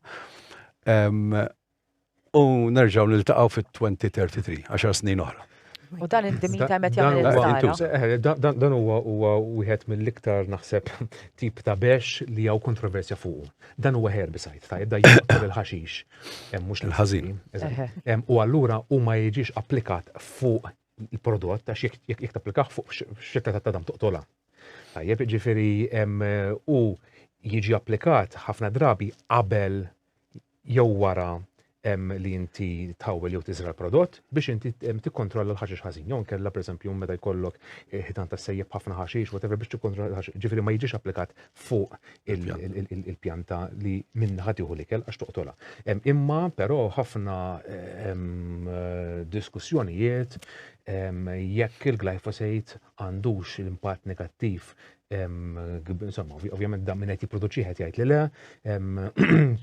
U nerġgħu niltaqgħu fit-2033, 10 snin oħra. U dan indi min ta' met jagħmel il-ħsara. Dan huwa huwa wieħed mill-iktar naħseb tip ta' bex li hawn kontroversja fuq. Dan huwa herbicide tajjeb da jaqtol il-ħaxix. Hemm mhux l-ħażin. U allura hu ma jiġix applikat fuq il-prodott għax jekk tapplikah fuq xetta ta' tadam toqtola. Tajjeb, ġifieri u jiġi applikat ħafna drabi qabel jew wara li inti tħawwel jew tiżra l-prodott biex inti tikkontrolla l-ħaxix ħażin. Jew nkella pereżempju meta jkollok eh, ħitan ta' sejjeb ħafna ħaxix, whatever biex tikkontrolla l-ħaxix. Ġifieri ma jiġix applikat fuq il-pjanta li minn ħatiħu l-ikel għax toqtola. Imma però ħafna diskussjonijiet jekk il-glyphosate għandux l-impatt negattiv Insomma, ovvjament dan minn qed jipproduċi qed jgħid li le,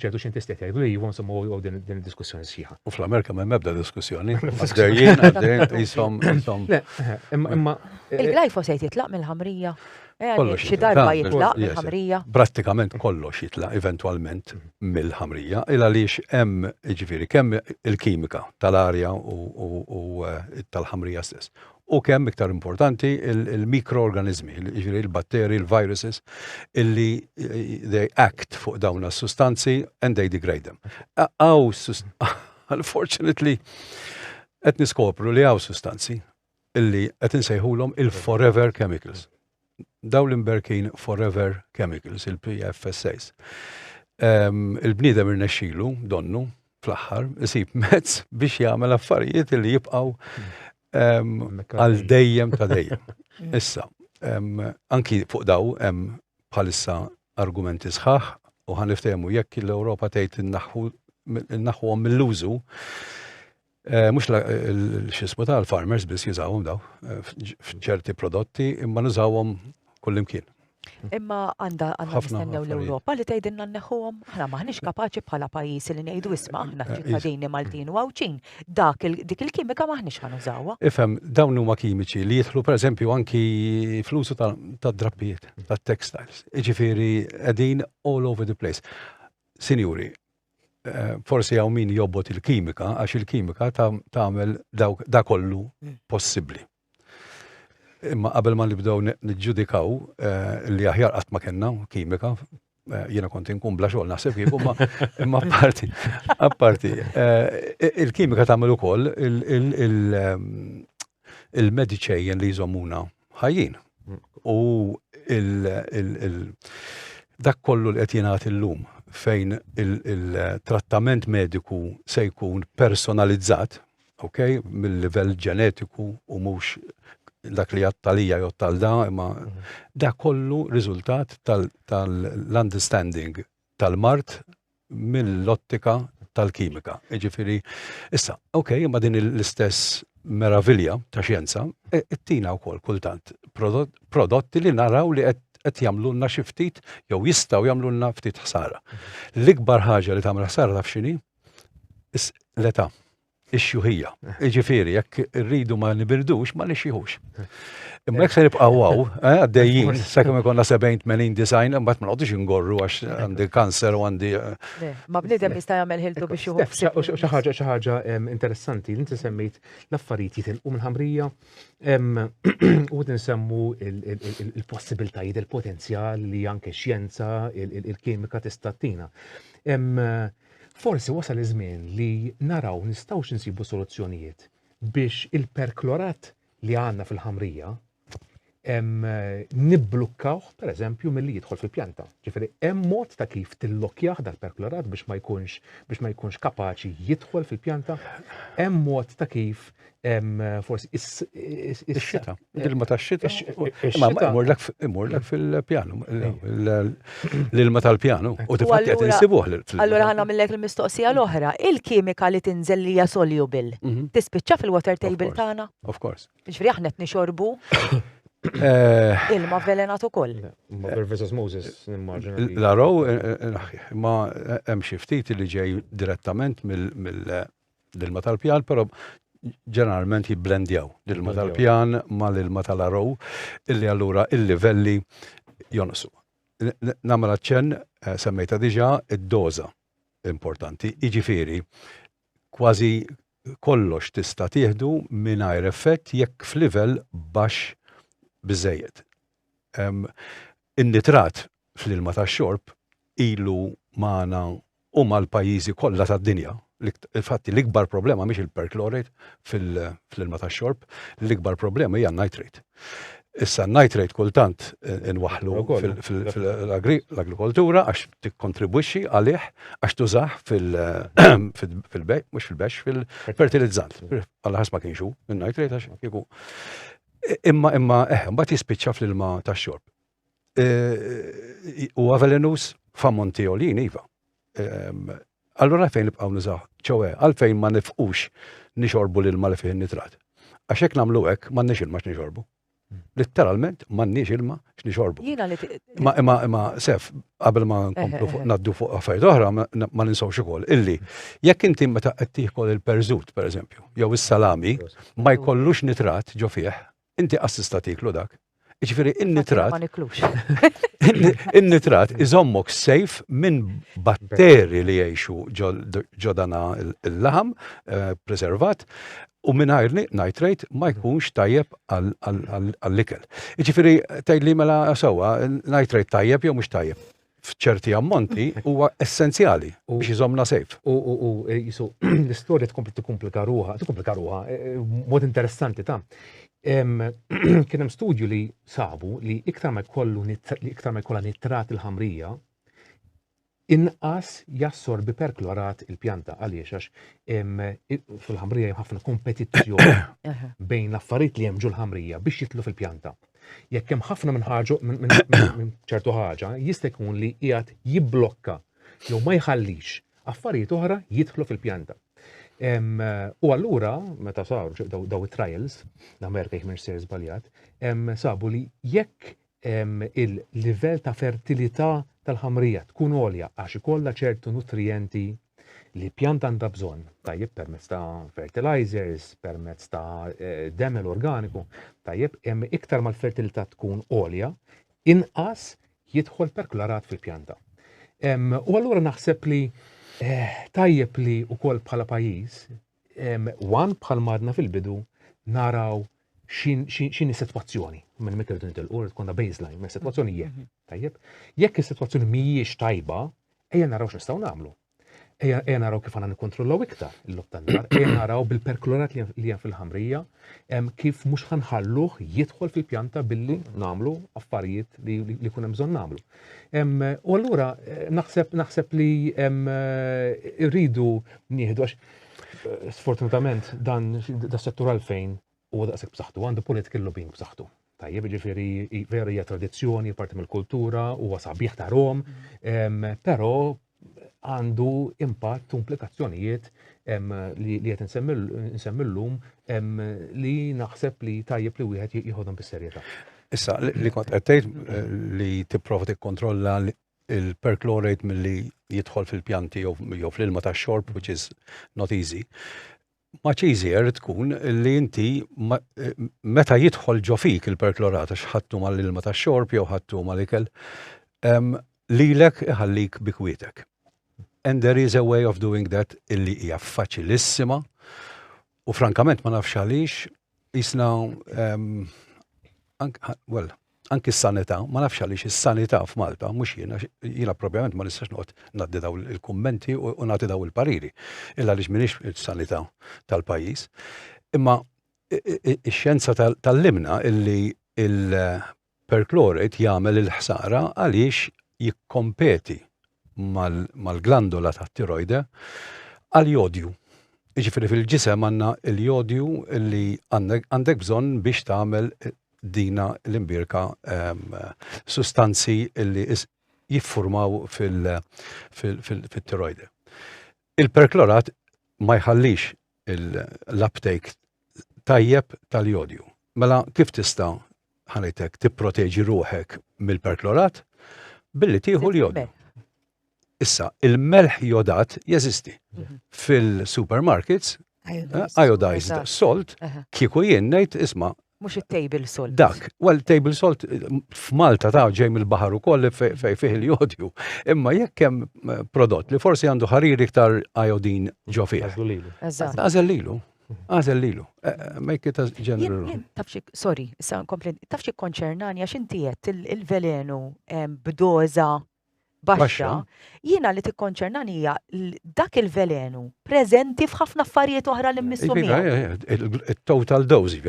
ċertu xjentisti qed jgħidu li iva, insomma u din id-diskussjoni sħiħa. U fl-Amerika m'hemm ebda diskussjoni. Għaddejjin, għaddejjin, isom, isom. Imma. Eh, Il-glifosate jitlaq mill-ħamrija. Eh, kollox xi darba jitlaq mill-ħamrija. Prattikament kollox jitlaq eventwalment mhm. mill-ħamrija, il għaliex hemm ġifieri kemm il-kimika tal-arja u eh, tal-ħamrija stess u kemm iktar importanti il-mikroorganiżmi, jiġifieri il-batteri, il-viruses, illi they act fuq dawn is-sustanzi and they degrade them. Aw, unfortunately, qed niskopru li hawn sustanzi illi qed insejħulhom il-forever chemicals. dawn l-imberkin forever chemicals, il-PFSAs. Il-bniedem irnexxilu, donnu, fl-aħħar, isib mezz biex jagħmel affarijiet li jibqgħu għal dejjem ta' dejjem. Issa, anki fuq daw hemm bħalissa argumenti sħaħ u ħaniftehmu jekk l-Ewropa tgħid innaħħuhom mill-użu Mhux x'ismu ta' l-farmers biss jużawhom daw f'ċerti prodotti imma nużawhom kullimkien. Imma għandha għandha nistennew l-Ewropa li tgħidilna nneħħuhom. Aħna m'aħniex kapaċi bħala pajjiż li ngħidu isma' aħna ċittadini Maltin u Għawdxin dak dik il-kimika m'aħniex ħa nużawha. Ifhem, dawn huma kimiċi li jidħlu pereżempju anki fl-użu tad-drappijiet, tat-textiles. Jiġifieri qegħdin all over the place. Sinjuri, Eh, forsi għaw min jobbot il-kimika, għax il-kimika tagħmel da kollu mm. possibbli. Imma qabel ma nibdew niġġudikaw eh, li aħjar qatt ma kellna kimika, eh, jiena kont inkun bla xogħol naħseb kieku ma imma apparti apparti il-kimika tagħmel ukoll il-mediċejjen li jżommuna ħajjin. U dak kollu li qed jingħad illum fejn il-trattament mediku se jkun personalizzat, ok, mill-livell ġenetiku u mhux dak li jattalija jottal da, imma mhm. dak kollu riżultat tal-understanding tal-mart mill-ottika tal-kimika. Jiġifieri, issa, ok, imma din l-istess meravilja ta' xjenza e, ittina wkoll kultant prodotti li naraw li qed qed jagħmlulna xi ftit jew jistgħu jagħmlulna ftit ħsara. Mhm. L-ikbar ħaġa li tagħmel ħsara taf x'inhi? L-età. ix-xjuħija. Jiġifieri jekk irridu ma nibirdux ma nixjihux. Imma jekk se nibqgħu hawn eh, għaddejjin sakemm ikollna 70 80 design imbagħad ma noqgħodux ingorru għax għandi kanser u għandi. Eh. Ma bniedem jista' jagħmel ħiltu biex juħu. Xi ħaġa xi ħaġa interessanti li inti semmejt l-affarijiet jitilqu mill-ħamrija u tinsemmu il-possibiltajiet il-potenzjal li anke xjenza il-kimika tista' tina. Forsi wasal iż-żmien li naraw nistgħux insibu soluzzjonijiet biex il-perklorat li għandna fil-ħamrija nibblukkawh pereżempju milli jidħol fil-pjanta. Ġifieri hemm mod ta' kif tillokkjah dal-perklorat biex ma jkunx biex ma jkunx kapaċi jidħol fil-pjanta. Hemm mod ta' kif forsi is-xita, l-ilma ta' xita. Ma imurlek fil-pjanu, l-ilma tal-pjanu, u tifatti għet nsibuħ. Allora għanna millek il-mistoqsija l-oħra, il-kimika li tinżel li jasolju bil, mhm. tispicċa fil-water table tana? Of course. Ġifri aħna t-nixorbu eh. ilma velenat u koll. Ma versus Moses, nimmaġina. La row, eh, eh, ma hemm xi ftit li ġej direttament mill l-ilma tal-pjan, però ġeneralment jibblendjaw l-ilma tal-pjan ma l-ilma tal-arow, illi allura il-livelli jonqsu. Namela ċen, eh, semmejta diġa, id-doza importanti, iġifiri, kważi kollox tista tieħdu mingħajr effett jekk f'livell baxx biżejjed. In-nitrat fl-ilma tax-xorb ilu magħna u mal-pajjiżi kollha tad-dinja. Infatti, l-ikbar problema mhix il-perchlorate fl-ilma tax-xorb, l-ikbar problema hija n-nitrate. Issa, n-nitrate kultant inwaħħlu fl-agrikoltura għax tikkontribwixxi għalih għax tużah fil-bhejj, mhux fil-bhexx, fil-fertilizzant. Alla ħares ma kienx hu n-nitrate għax kieku. Imma imma eh, mbagħad jispiċċa fl-ilma tax-xorb. U għavelenus f'ammonti olin, iva. Allura fejn nibqgħu nużaw, ċowe, għalfejn ma nifqux nixorbu l-ilma li fih nitrat. Għax hekk nagħmlu hekk m'għandniex ilma x'nixorbu. Litteralment m'għandniex ilma x'nixorbu. Jiena li Ma imma imma sef, qabel ma nkomplu fuq naddu fuq affarijiet oħra, ma ninsawx ukoll illi jekk inti meta qed tiekol il-perżut pereżempju, jew is-salami, ma jkollux nitrat ġo fih, inti assista tiklu dak. Ġifieri in-nitrat. Ma niklux. In-nitrat iżommok sejf minn batteri li jgħixu ġodana l-laħam preservat u mingħajr nitrate ma jkunx tajjeb għall-ikel. Jiġifieri tgħidli mela sewwa nitrate tajjeb jew mhux tajjeb. F'ċerti ammonti huwa essenzjali biex iżommna safe. U jisu l-istorja tkompli tikkumplika ruha, tikkumplika ruha mod interessanti ta' kien hemm studju li sabu li iktar ma jkollu iktar ma jkollha nitrat il-ħamrija inqas jassorbi perklorat il-pjanta għaliex għax fil-ħamrija hemm ħafna kompetizzjoni bejn l-affarijiet li hemm ġul-ħamrija biex jitlu fil-pjanta. Jekk hemm ħafna minn ħaġa minn ċertu ħaġa jista' jkun li qiegħed jibblokka jew ma jħallix affarijiet oħra jidħlu fil-pjanta. U allura, meta saru daw it-trials, l-Amerika jħmir ser zbaljat, sabu li jekk il-livell ta' fertilità tal-ħamrija tkun għolja għax ikollha ċertu nutrijenti li pjanta għandha bżonn, tajjeb permezz ta' fertilizers, permezz ta' eh, demel organiku, tajjeb iktar mal-fertilità tkun għolja, inqas jidħol perklarat fil-pjanta. U allura naħseb li eh, tajjeb li wkoll bħala pajjiż One, bħal madna fil-bidu, naraw xin is-sitwazzjoni. Minn meta rridu nitilqu, rrid konna baseline, ma sitwazzjoni jekk. Mhm. Tajjeb, jekk is-sitwazzjoni mhijiex tajba, ejja naraw x'nistgħu nagħmlu. Ejja naraw kif għandna nikkontrollaw iktar il-lob tan-nar, ejja naraw bil-perklorat li hemm fil-ħamrija, kif mhux ħanħalluh jidħol fil-pjanta billi nagħmlu affarijiet li kun hemm bżonn nagħmlu. U allura naħseb naħseb li rridu nieħdu għax eh, sfortunatament dan das-settur għalfejn huwa daqshekk b'saħħtu għandu political lobbying b'saħħtu. Tajjeb, ġifiri, vera hija tradizzjoni, parti mill-kultura, huwa sabiħ ta' Rom, però għandu impatt u implikazzjonijiet li qed nsemmillum li naħseb li tajjeb li wieħed jieħodhom bis-serjetà. Issa, li kont qed tgħid eh, li tipprova tikkontrolla il-perchlorate milli jidħol fil-pjanti jew fl-ilma tax-xorb, which is not easy. Much easier tkun li inti meta jidħol ġo fik il-perklorat għax ħadtu mal-ilma tax-xorb jew ħadtu mal-ikel, lilek iħallik bi kwietek. And there is a way of doing that illi hija faċilissima u frankament ma nafx għaliex Isna, well, anki s-sanità, ma nafx għaliex is-sanità f'Malta, mhux jiena, jiena probjament ma nistax noqgħod ngħaddi daw il-kummenti u nagħti daw il-pariri, illa għaliex m'iniex is-sanità tal-pajjiż. Imma ix-xjenza tal-limna illi Perchlorate jagħmel il-ħsara għaliex jikkompeti mal-glandola tat-tirojde għall-jodju. Jiġifieri fil-ġisem għandna l-jodju li għandek bżonn biex tagħmel dina l-imbierka sustanzi li jiffurmaw fit-tirojde. Il-perklorat ma jħallix l-uptake tajjeb tal-jodju. Mela kif tista' ħanejtek tipproteġi ruħek mill-perklorat? Billi tieħu l-jodju. Issa, il-melħ jodat jeżisti. Mhm. Fil-supermarkets, iodized salt, kieku jien ngħid isma' Mhux it-table salt. Dak, well table salt f'Malta ta' ġej mill-baħar ukoll fejn fih il-jodju. Imma jekk hemm eh, prodott li forsi għandu ħarir iktar ajodin ġo fih. Għażel lilu. Għażel lilu. Eh, eh, make it a general. Tafxik, sorry, sa' komplin, tafxik konċernani għax inti qed il-velenu b'doża baxxa, jiena li tikkonċernani hija dak il-velenu preżenti f'ħafna affarijiet oħra li mmissu Il-total dose,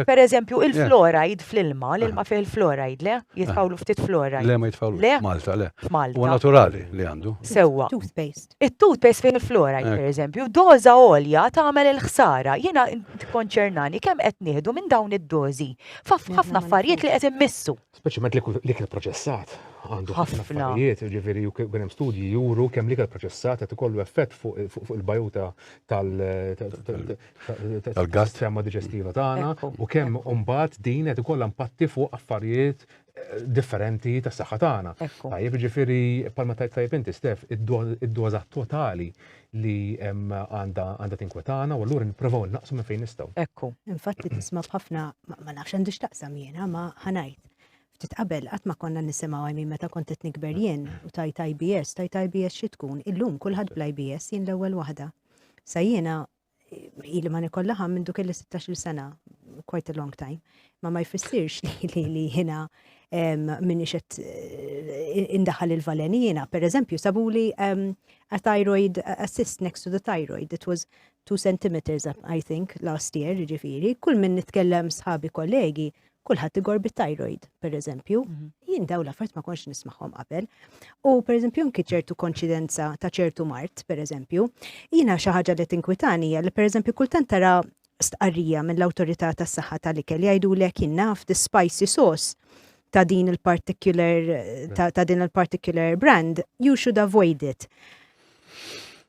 Per eżempju, il-fluoride fl-ilma, l-ilma fih il-fluoride, le? Jitfawlu ftit fluoride. Le ma jitfawlu. Le? Malta, le. Malta. U naturali li għandu. Sewwa. Toothpaste. Il-toothpaste fih il-fluoride, per eżempju, doza olja tagħmel il-ħsara. Jiena tikkonċernani kemm qed nieħdu minn dawn id-dozi. F'ħafna affarijiet li qed immissu. Speċjalment l-ikel proċessat għandu ħafna affarijiet, ġifieri kien hemm studji juru kemm l-ikel proċessat qed ikollu effett fuq il-bajuta tal-gas tema diġestiva tagħna u kemm imbagħad din qed ikollha impatti fuq affarijiet eh, differenti tas-saħħa tagħna. Tajjeb ġifieri palma tajjeb inti Stef, id-doża totali li għandha tinkwetana u allura nipprovaw innaqsu minn fejn nistgħu. Ekku, infatti tisma' b'ħafna ma nafx għandix taqsam jiena ma ħanajt. Ftit qabel qatt ma konna nisimgħu għajmi meta kont qed nikber jien u tajt IBS, tajt IBS xi tkun, illum kulħadd bl-IBS jien l-ewwel waħda. Sa jiena ili ma nikollaħa minn duk il-16 sena, quite a long time, ma ma jfissirx li li jina minn ixet eh, indaħal il-valeni jina. Per eżempju, sabu li a thyroid, a cyst next to the thyroid, it was 2 centimeters, I think, last year, ġifiri, kull minn nitkellem sħabi kollegi, kulħadd igor bit-tajroid, per eżempju, mhm. jien daw l-affarijiet ma konx nismagħhom qabel. U per eżempju anki ċertu konċidenza ta' ċertu mart, per eżempju, jiena xi ħaġa li tinkwitani li per eżempju kultant tara stqarrija mill-awtorità tas-saħħa tal-ikel jgħidulek jien naf the spicy sauce ta' din il-particular ta', ta din il-particular brand, you should avoid it.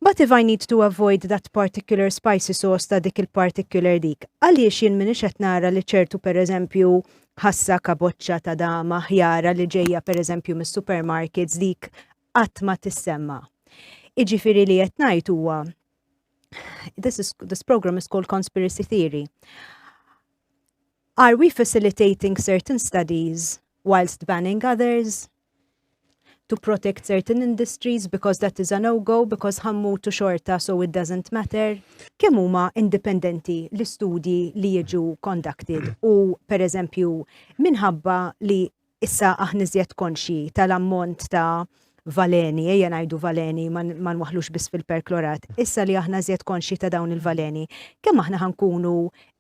But if I need to avoid that particular spicy sauce ta' dik il-particular dik, għaliex jien minix qed nara li ċertu per eżempju ħassa kaboċċa ta' dama ħjara li ġejja per eżempju mis-supermarkets dik qatt ma tissemma. Iġifieri li qed ngħid huwa this is this program is called conspiracy theory. Are we facilitating certain studies whilst banning others? to protect certain industries because that is a no-go because ħammutu xorta so it doesn't matter. Kemm huma indipendenti l-istudji li jiġu conducted u pereżempju minħabba li issa aħna iżjed konxji tal-ammont ta' valeni, ejja ngħidu valeni ma nwaħlux biss fil-perklorat, issa li aħna iżjed konxji ta' dawn il-valeni, kemm aħna ħankunu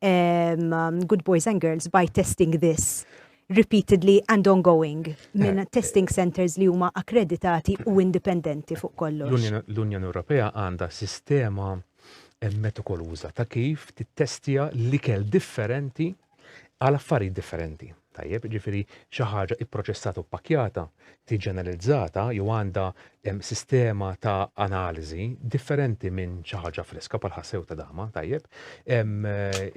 um, good boys and girls by testing this? repeatedly and ongoing minn testing centres li huma akkreditati u indipendenti fuq kollox. L-Unjoni Ewropea għandha sistema metikoluża ta' kif tittestja l-ikel differenti għal affarijiet differenti. Tajjeb, jiġifieri xi ħaġa pproċessata u ppakkjata, tiġi analizzata jew għandha sistema ta' analiżi differenti minn xi ħaġa friska bħal ħassew ta' dama, tajjeb.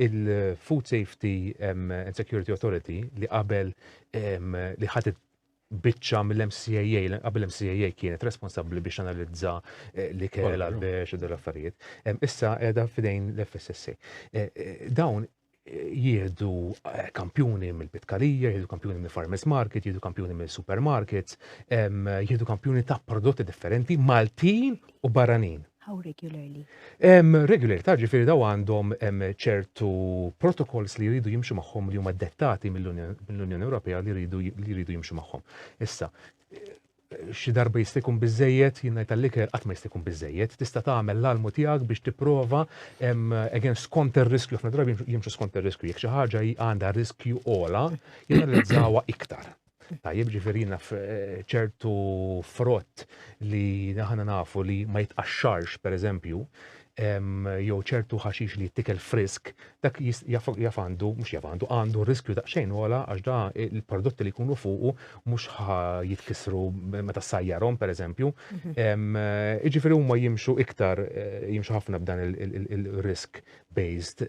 Il-Food Safety and Security Authority li qabel li ħadet biċċa mill-MCAA, qabel MCAA kienet responsabbli biex analizza eh, li kell għal-bex u dal-affarijiet. Issa edha fidejn l-FSSA. Eh, eh, dawn jieħdu eh, kampjuni mill-pitkarija, jieħdu kampjuni mill-farmers market, jieħdu kampjuni mill-supermarkets, jieħdu kampjuni ta' prodotti differenti, Maltin u barranin. How regularly? Um, regular, ta' ġifiri daw għandhom ċertu protokols li jridu jimxu maħħom li huma dettati mill-Unjoni Ewropea li jridu jimxu maħħom. Issa, Xi darba jista' jkun biżżejjed, jien ngħid għall-ikel qatt ma jista' jkun biżżejjed, tista' tagħmel l-almu tiegħek biex tipprova, again skont ir-riskju, ħafna drabi jimxu skont ir-riskju, jekk xi ħaġa għandha riskju ogħla, janalizzawha iktar. Tajjeb ġifieri naf eh, ċertu frott li aħna nafu li ma jitqaxxarx pereżempju, jew ċertu ħaxix li jittikel frisk, dak jaf għandu, mhux jaf għandu, għandu riskju daqsxejn ola għax da il-prodotti li jkunu fuqu mhux jitkisru meta sajjarhom pereżempju. Mhm. Jiġifieri huma jimxu iktar eh, jimxu ħafna b'dan il-risk based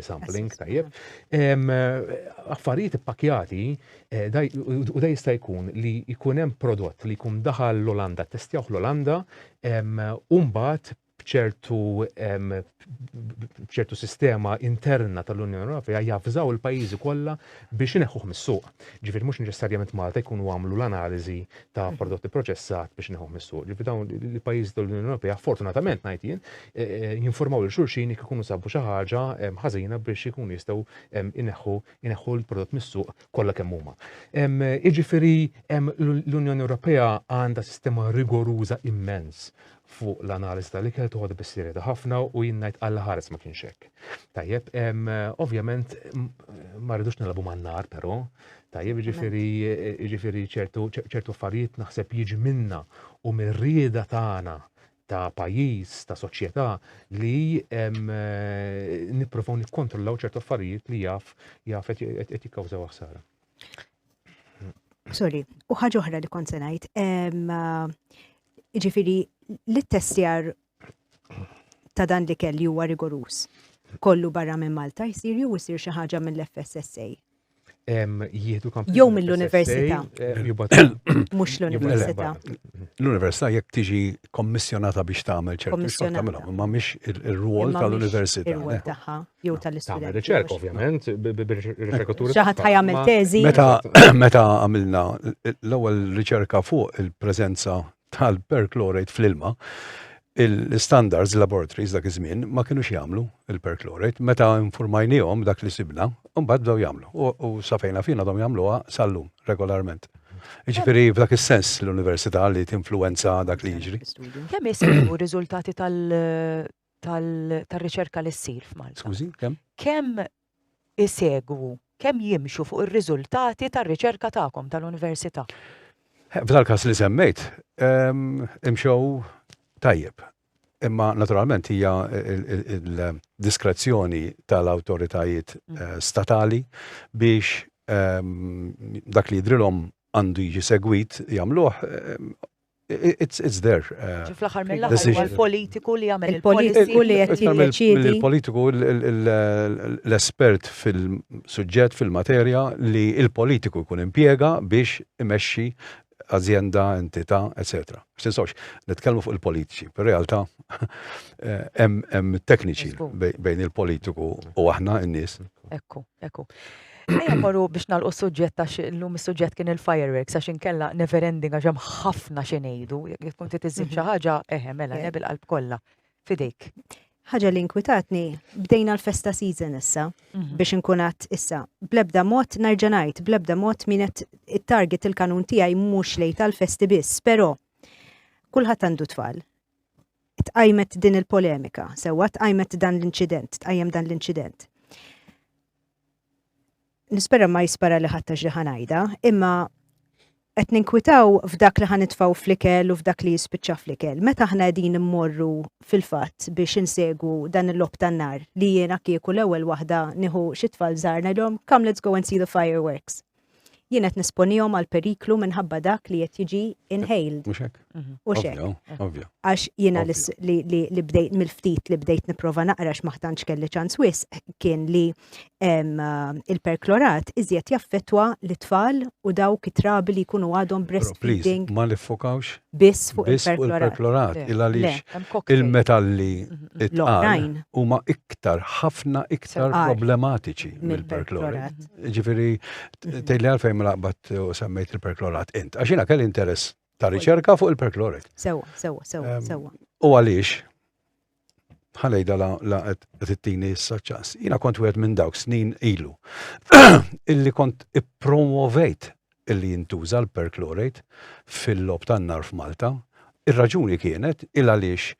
sampling tajjeb. Affarijiet ippakjati eh, u da jista' jkun li jkun hemm prodott li jkun daħal l-Olanda, testjawh l-Olanda, umbat b'ċertu b'ċertu sistema interna tal-Unjoni Ewropea jafżaw il-pajjiżi kollha biex ineħħuh mis-suq. Ġifieri mhux neċessarjament Malta jkunu għamlu l-analiżi ta' prodotti proċessat biex ineħħuh mis-suq. Ġifieri dawn il-pajjiżi tal-Unjoni Ewropea fortunatament ngħid jien e, e, jinformaw lil xulxin jekk ikunu sabu xi ħaġa ħażina biex ikunu jistgħu ineħħu ineħħu l-prodott mis-suq kollha kemm huma. Jiġifieri l-Unjoni Ewropea għandha sistema rigoruża immens fuq l-analiżi tal-ikel toħodha bis-serjetà ħafna u jien ngħid Alla ħares ma kienx hekk. Tajjeb, ovvjament ma rridux nilagħbu man-nar però, tajjeb jiġifieri jiġifieri ċertu ċertu affarijiet naħseb jiġi minna u mir-rieda tagħna ta' pajjiż, ta' soċjetà li nippruvaw nikkontrollaw ċertu affarijiet li jaf jaf qed jikkawżaw ħsara. Sorry, u ħaġa oħra li kont se ngħid, Ġifiri, li t-testjar ta' dan li kelli huwa rigorus. Kollu barra minn Malta jsir jew jsir xi ħaġa mill-FSSA. Jieħdu kamp. Jew mill-università. Mhux l-università. L-università jekk tiġi kommissjonata biex tagħmel ċertu xogħol tagħmilha, ma mhix ir-rwol tal-università. Ir-rwol tagħha. jew tal-istudenti. Tagħmel riċerka ovvjament bir-riċerkaturi. Xi ħadd ħajamel teżi. Meta meta għamilna l-ewwel riċerka fuq il-preżenza tal-perchlorate fl-ilma, il-standards laboratories dak iż-żmien ma kienux jagħmlu il-perchlorate meta informajnihom dak li sibna, mbagħad bdew jagħmlu. U safejna fina dom jagħmluha sal-lum regolarment. Ġifiri, f'dak il-sens l-Università li t-influenza dak li jiġri. Kemm jisibu riżultati tal- tal-riċerka li ssir f'Malta. Skużi, kemm? Kemm isegwu, kemm jimxu fuq ir-riżultati tar-riċerka tagħkom tal-università? F'dal każ li semmejt, ehm, imxew tajjeb. Imma naturalment hija il-diskrezzjoni tal-awtoritajiet mm. eh, statali biex ehm, dak li jidrilhom għandu jiġi segwit jagħmluh ehm, It's there. Ġi fl-aħħar mill-aħħar huwa l-politiku li jagħmel il-politiku li qed jiddeċiedi. Il-politiku l-espert fil-suġġett fil-materja li il-politiku jkun impjega biex imexxi azienda, entità, etc. Xtinsawx, nitkellmu fuq il-politiċi, per realtà hemm tekniċi bejn il-politiku u aħna n-nies. Ekku, ekku. Ejja mmorru biex nagħlqu s-suġġett għax illum is-suġġett kien il-fireworks għax inkella never ending għax hemm ħafna xi ngħidu. Jekk tkun trid iżżid xi mhm. ħaġa, eħe mela le bil-qalb kollha. Fidejk. Ħaġa li inkwitatni, bdejna l-festa season issa mhm. biex inkunat issa. Blebda mod nerġa' ngħid, blebda mod min qed it-target il-kanun tiegħi mhux lejn tal-festi biss, però kulħadd għandu tfal. Tqajmet din il-polemika, sewwa tqajmet dan l-inċident, tqajjem dan l-inċident nispera ma jispara li ħattax li ħanajda, imma qed ninkwitaw f'dak li ħanitfaw fl-ikel u f'dak li jispiċċa fl-ikel. Meta aħna qegħdin immorru fil-fatt biex insegwu dan il-lob tan-nar li jiena kieku l-ewwel waħda nieħu xi tfal żgħar ngħidhom come let's go and see the fireworks. jien qed nesponihom għal periklu minħabba dak li qed jiġi inhaled. Mhux hekk. Mhm. U xek. Ovvja. Għax jiena li bdejt mill-ftit li bdejt nipprova naqra ma ħtantx kelli ċans wis kien li il-perklorat iżjed jaffetwa l-tfal u dawk it-trabi li jkunu għadhom breastfeeding. Ma nifokawx biss fuq il-perklorat. Il-għaliex il-metalli mhm. it-tqal huma iktar ħafna iktar problematiċi mill-perklorat. Ġifiri, tejli għalfejn ma laqbat u semmejt il-perklorat int. Għaxina kelli interess ta' riċerka fuq il-perklorit. Sewa, sewa, sewa, sewa. U għalix, ħalejda la t-tini s-saċċas. Jina kont wieħed minn dawk snin ilu. Illi kont i-promovejt illi jintuża l-perchlorate fil-lob tan-nar f'Malta. Ir-raġuni kienet il għaliex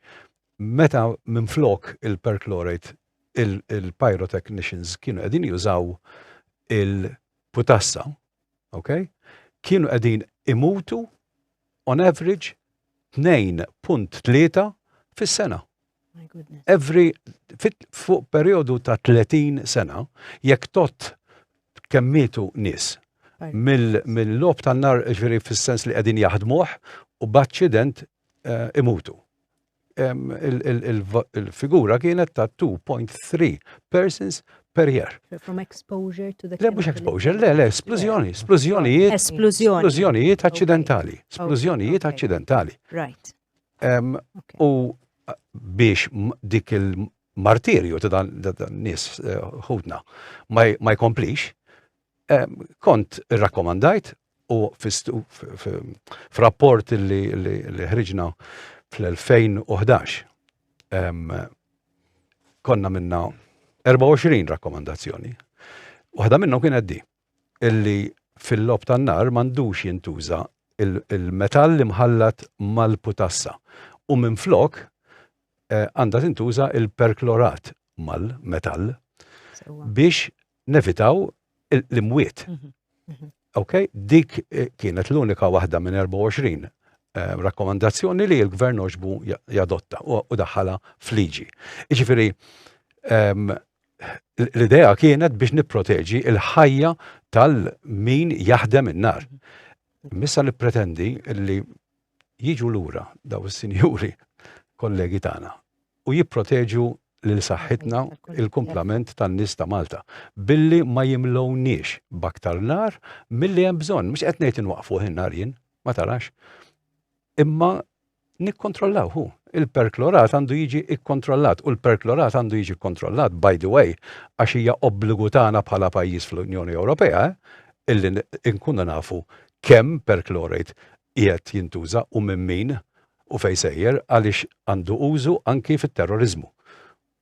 meta minn flok il-perchlorate il-pyrotechnicians kienu qegħdin jużaw il-putassa, ok? Kienu qegħdin imutu on average 2.3 fis-sena. Every fuq periodu ta' 30 sena, jekk tot kemmitu nis mill-lob tan-nar ġveri fis-sens li qegħdin jaħdmuh u b'aċċident eh, imutu. il-figura kienet ta' 2.3 persons per year. From exposure to the... Le, mux exposure, le, le, esplużjoni, esplużjonijiet. Esplużjoni. Esplużjonijiet accidentali, esplużjonijiet accidentali. Right. U biex dik il-martirju ta' dan nis eh, ħudna ma jkomplix, kont rakkomandajt u f'rapport li ħriġna fl-2011 konna minna 24 rakkomandazzjoni. Waħda minnhom kienet di illi fil-lob tan-nar m'għandux jintuża il-metall li mħallat mal-putassa u minflok għandha tintuża il-perklorat mal-metall biex nevitaw l-imwiet. Mhm, mhm. Ok, dik eh, kienet l-unika waħda minn 24 eh, rakkomandazzjoni li l-gvern oġbu jadotta u daħħala fliġi. Iġifiri, ehm, l-idea kienet biex niproteġi il-ħajja tal-min jaħdem in-nar. Mhm. Missa nippretendi li jiġu lura daw is-sinjuri kollegi tagħna u jipproteġu lil saħħitna, il-kumplament tan-nies ta' Malta, billi ma jimlewniex b'aktar nar milli hemm bżonn. Mhux qed ngħid inwaqqfuh in-nar jien, ma tarax. Imma nikkontrollaw hu. Il-perklorat għandu jiġi kkontrollat u l-perklorat għandu jiġi kkontrollat, by the way, għax hija obbligu tagħna bħala pajjiż fl-Unjoni Ewropea eh, illi nkunu nafu kemm perchlorate qiegħed jintuża u minn min u fejn sejjer għaliex għandu użu anki fit-terroriżmu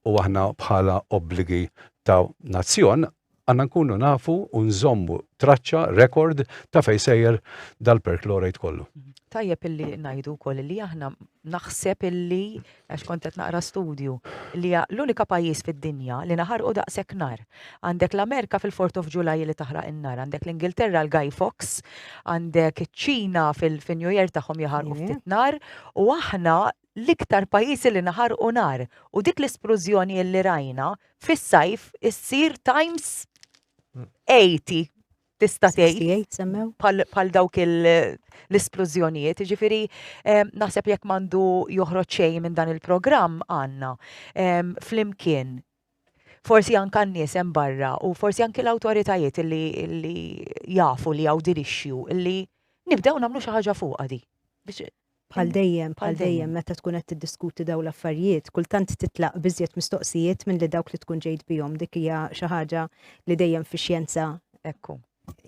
u aħna bħala obbligi ta' nazzjon għandna nkunu nafu u nżommu traċċa, rekord ta' fejn sejjer dal-perchlorate kollu. Tajjeb illi ngħidu wkoll li aħna naħseb illi għax kont qed naqra studju li l-unika pajjiż fid-dinja li naħarqu daqshekk nar. Għandek l-Amerika fil-Fourth of July li taħraq in-nar, għandek l-Ingilterra l-Guy Fawkes, għandek iċ-Ċina fin-New Year tagħhom jaħarqu ftit nar, u aħna l-iktar pajjiżi li naħarqu nar. U dik l-isplużjoni li rajna fis-sajf issir times 80 tista' tgħid bħal dawk l-isplużjonijiet. Ġifieri naħseb jekk m'għandu joħroġ xejn minn dan il-programm għandna flimkien forsi anke għan-nies hemm barra u forsi anke l-awtoritajiet li, li jafu li hawn din issue li nibdew nagħmlu xi ħaġa fuqha di. Bħal dejjem, bħal dejjem meta tkun qed tiddiskuti dawn l-affarijiet, kultant titlaq b'iżjed mistoqsijiet milli dawk li tkun ġejt bihom. Dik hija xi ħaġa li dejjem fix-xjenza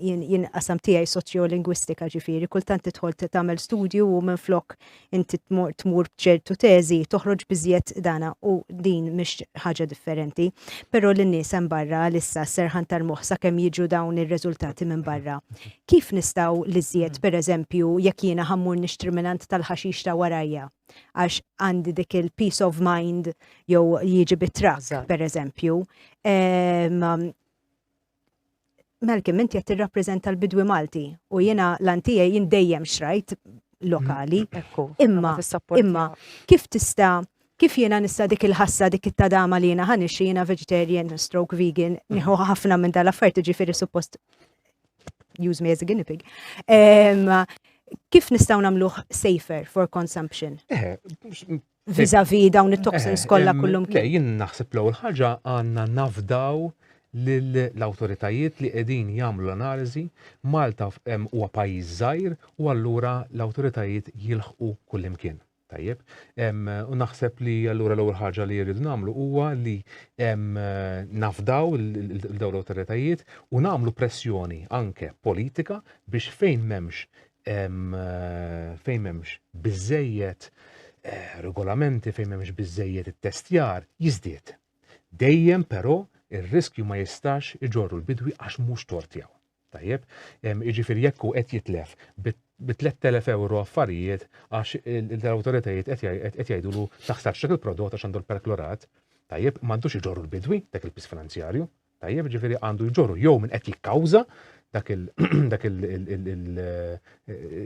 jien qasam tiegħi soċjolingwistika ġifieri, kultant tidħol tagħmel studju u minflok inti tmur b'ċertu teżi toħroġ biżjed dana u din mhix ħaġa differenti. Però lin nies hemm barra għalissa serħan tal-moħħ sakemm jiġu dawn ir-riżultati minn barra. Kif nistgħu li żjed pereżempju jekk jiena ħammur nixtri minant tal-ħaxix ta' warajja għax għandi dik il-peace of mind jew jiġi bit-trak pereżempju. Ehm, Malcolm, inti qed tirrappreżenta l-bidwi Malti u jiena lan tiegħi jien dejjem xrajt lokali. Ekku. Imma imma kif tista' kif jiena nista' dik il-ħassa dik it-tadama li jiena ħanixxi jiena vegetarian stroke vegan nieħu ħafna minn dal-affarijiet jiġifieri suppost use me as a guinea pig. Kif nistaw namluħ safer for consumption? Eh, vizavi dawn it-toxins eh, kollha kullum. Le, jien naħseb l-ewwel ħaġa għandna nafdaw l-autoritajiet li qegħdin jagħmlu l-analiżi Malta huwa pajjiż żgħir u allura l-awtoritajiet jilħqu kullimkien. Tajjeb, u naħseb li allura l-ewwel ħaġa li jridu nagħmlu huwa li nafdaw l-dawn l-awtoritajiet u nagħmlu pressjoni anke politika biex fejn m'hemmx fejn m'hemmx biżejjed eh, regolamenti fejn m'hemmx biżejjed it-testjar jiżdied. Dejjem però ir-riskju ma jistax iġorru l-bidwi għax mhux tort tiegħu. Tajjeb, jiġifieri jekk hu qed jitlef bi 3000 euro affarijiet għax l-awtoritajiet qed jgħidulu taħsarx dak il-prodott għax għandu l-perklorat, tajjeb, m'għandux iġorru l-bidwi dak il-pis finanzjarju, Tajjeb, ġifieri għandu jġorru jew minn qed jikkawża dak il dak il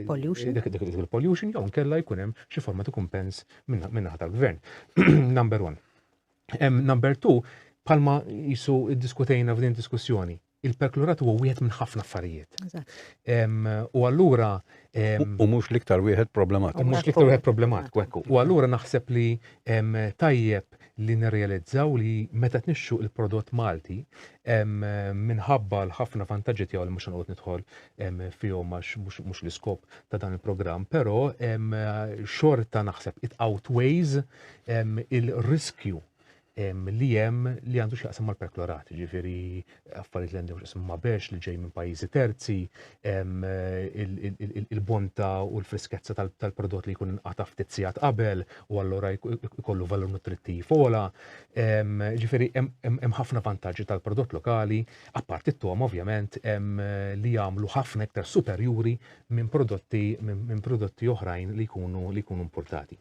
pollution dak il-pollution jew nkella jkun hemm xi forma ta' kumpens minn tal-gvern. Number one. Number two, palma jisu diskutejna f'din diskussjoni, il-perklorat huwa wieħed minn ħafna affarijiet. U allura. U mhux l-iktar wieħed problematiku. U mhux l-iktar wieħed problematiku, ekku. U allura naħseb li tajjeb li nirrealizzaw li meta tnixxu il-prodott Malti minħabba l-ħafna vantaġġi tiegħu li mhux se noqgħod nidħol fihom għax mhux l-iskop ta' dan il-programm, però xorta naħseb it outweighs il-riskju li hemm li għandu x'jaqsam mal-perklorat, jiġifieri affarijiet li għandhom x'ismu ma' bex li ġej minn pajjiżi terzi, il-bontà u l-frisketza tal-prodott li jkun inqata' ftit sigħat qabel u allura jkollu valur nutrittiv ogħla. Ġifieri hemm ħafna vantaġġi tal-prodott lokali, apparti t-togħma ovvjament, li jagħmlu ħafna iktar superjuri minn prodotti minn prodotti oħrajn li jkunu li jkunu importati.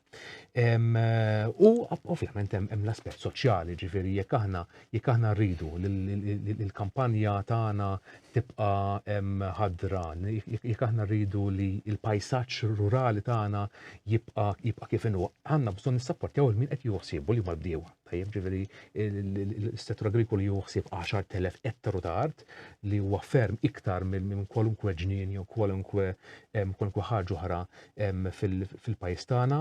U ovvjament hemm l-aspett soċjali, ġifieri jekk aħna jekk aħna rridu li l-kampanja tagħna tibqa' ħadra, jekk aħna rridu li l-pajsaġġ rurali tagħna jibqa' jibqa' kif inhu, għandna bżonn nissapportjaw il-min qed joħsiebu li mal-bdiewa. Tajjeb, ġifieri l-settur agrikoli joħsieb 10,000 ettaru ta' art li huwa ferm iktar minn kwalunkwe ġnien jew kwalunkwe kwalunkwe ħaġa oħra fil-pajjiż tagħna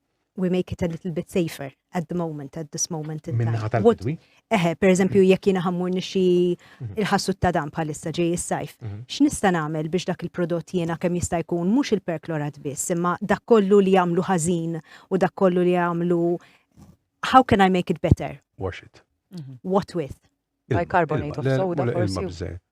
we make it a little bit safer at the moment, at this moment in time. Minna What- tal-bidwi. Eħe, per eżempju, jekk jiena ħammur nixi Mhm. il-ħassut ta' dan bħalissa ġej is-sajf, Mhm. x'nista' nagħmel biex dak il-prodott jiena kemm jista' jkun mhux il-perklorat biss, imma dak kollu li jagħmlu ħażin u dak kollu li jagħmlu how can I make it better? Wash it. What with? Ilma, Bicarbonate ilma, of le, soda, mela ilma forsi. bżejjed.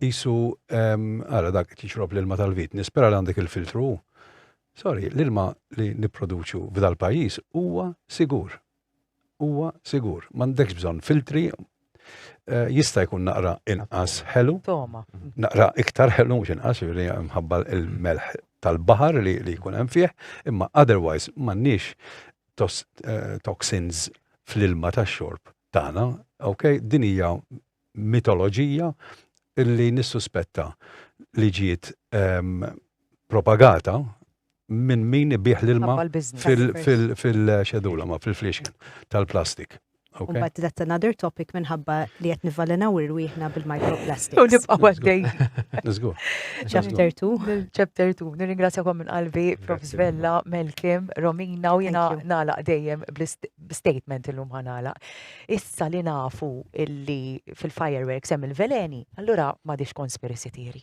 Qisu, ara dak qed jixrob l-ilma tal-vit, nispera li għandek il-filtru hu. Sorry, l-ilma li nipproduċu f'dal-pajjiż huwa sigur. Huwa sigur. M'għandekx bżonn filtri, eh, jista' jkun naqra inqas ħelu. Naqra iktar ħelu mhux inqas, jiġifieri mħabba il-melħ tal-baħar li jkun hemm fih, imma otherwise m'għandniex eh, toxins fl-ilma tax-xorb tagħna, ok, din hija mitoloġija li nissuspetta li ġiet ehm, propagata minn min ibih l-ilma fil-xedula, ma fil-flixken tal-plastik. Okay. But that's another topic minħabba li qed nivvalenaw irwieħna bil-microplastics. U nibqa' għaddej. Niżgur. Chapter 2. Chapter 2. Nirringrazzjakom minn qalbi Prof. Svella, Melkim, Romina u jiena nagħlaq dejjem statement illum ħanala. Issa li nafu illi fil-fireworks hemm il-veleni, allura m'għadix conspiracy theory.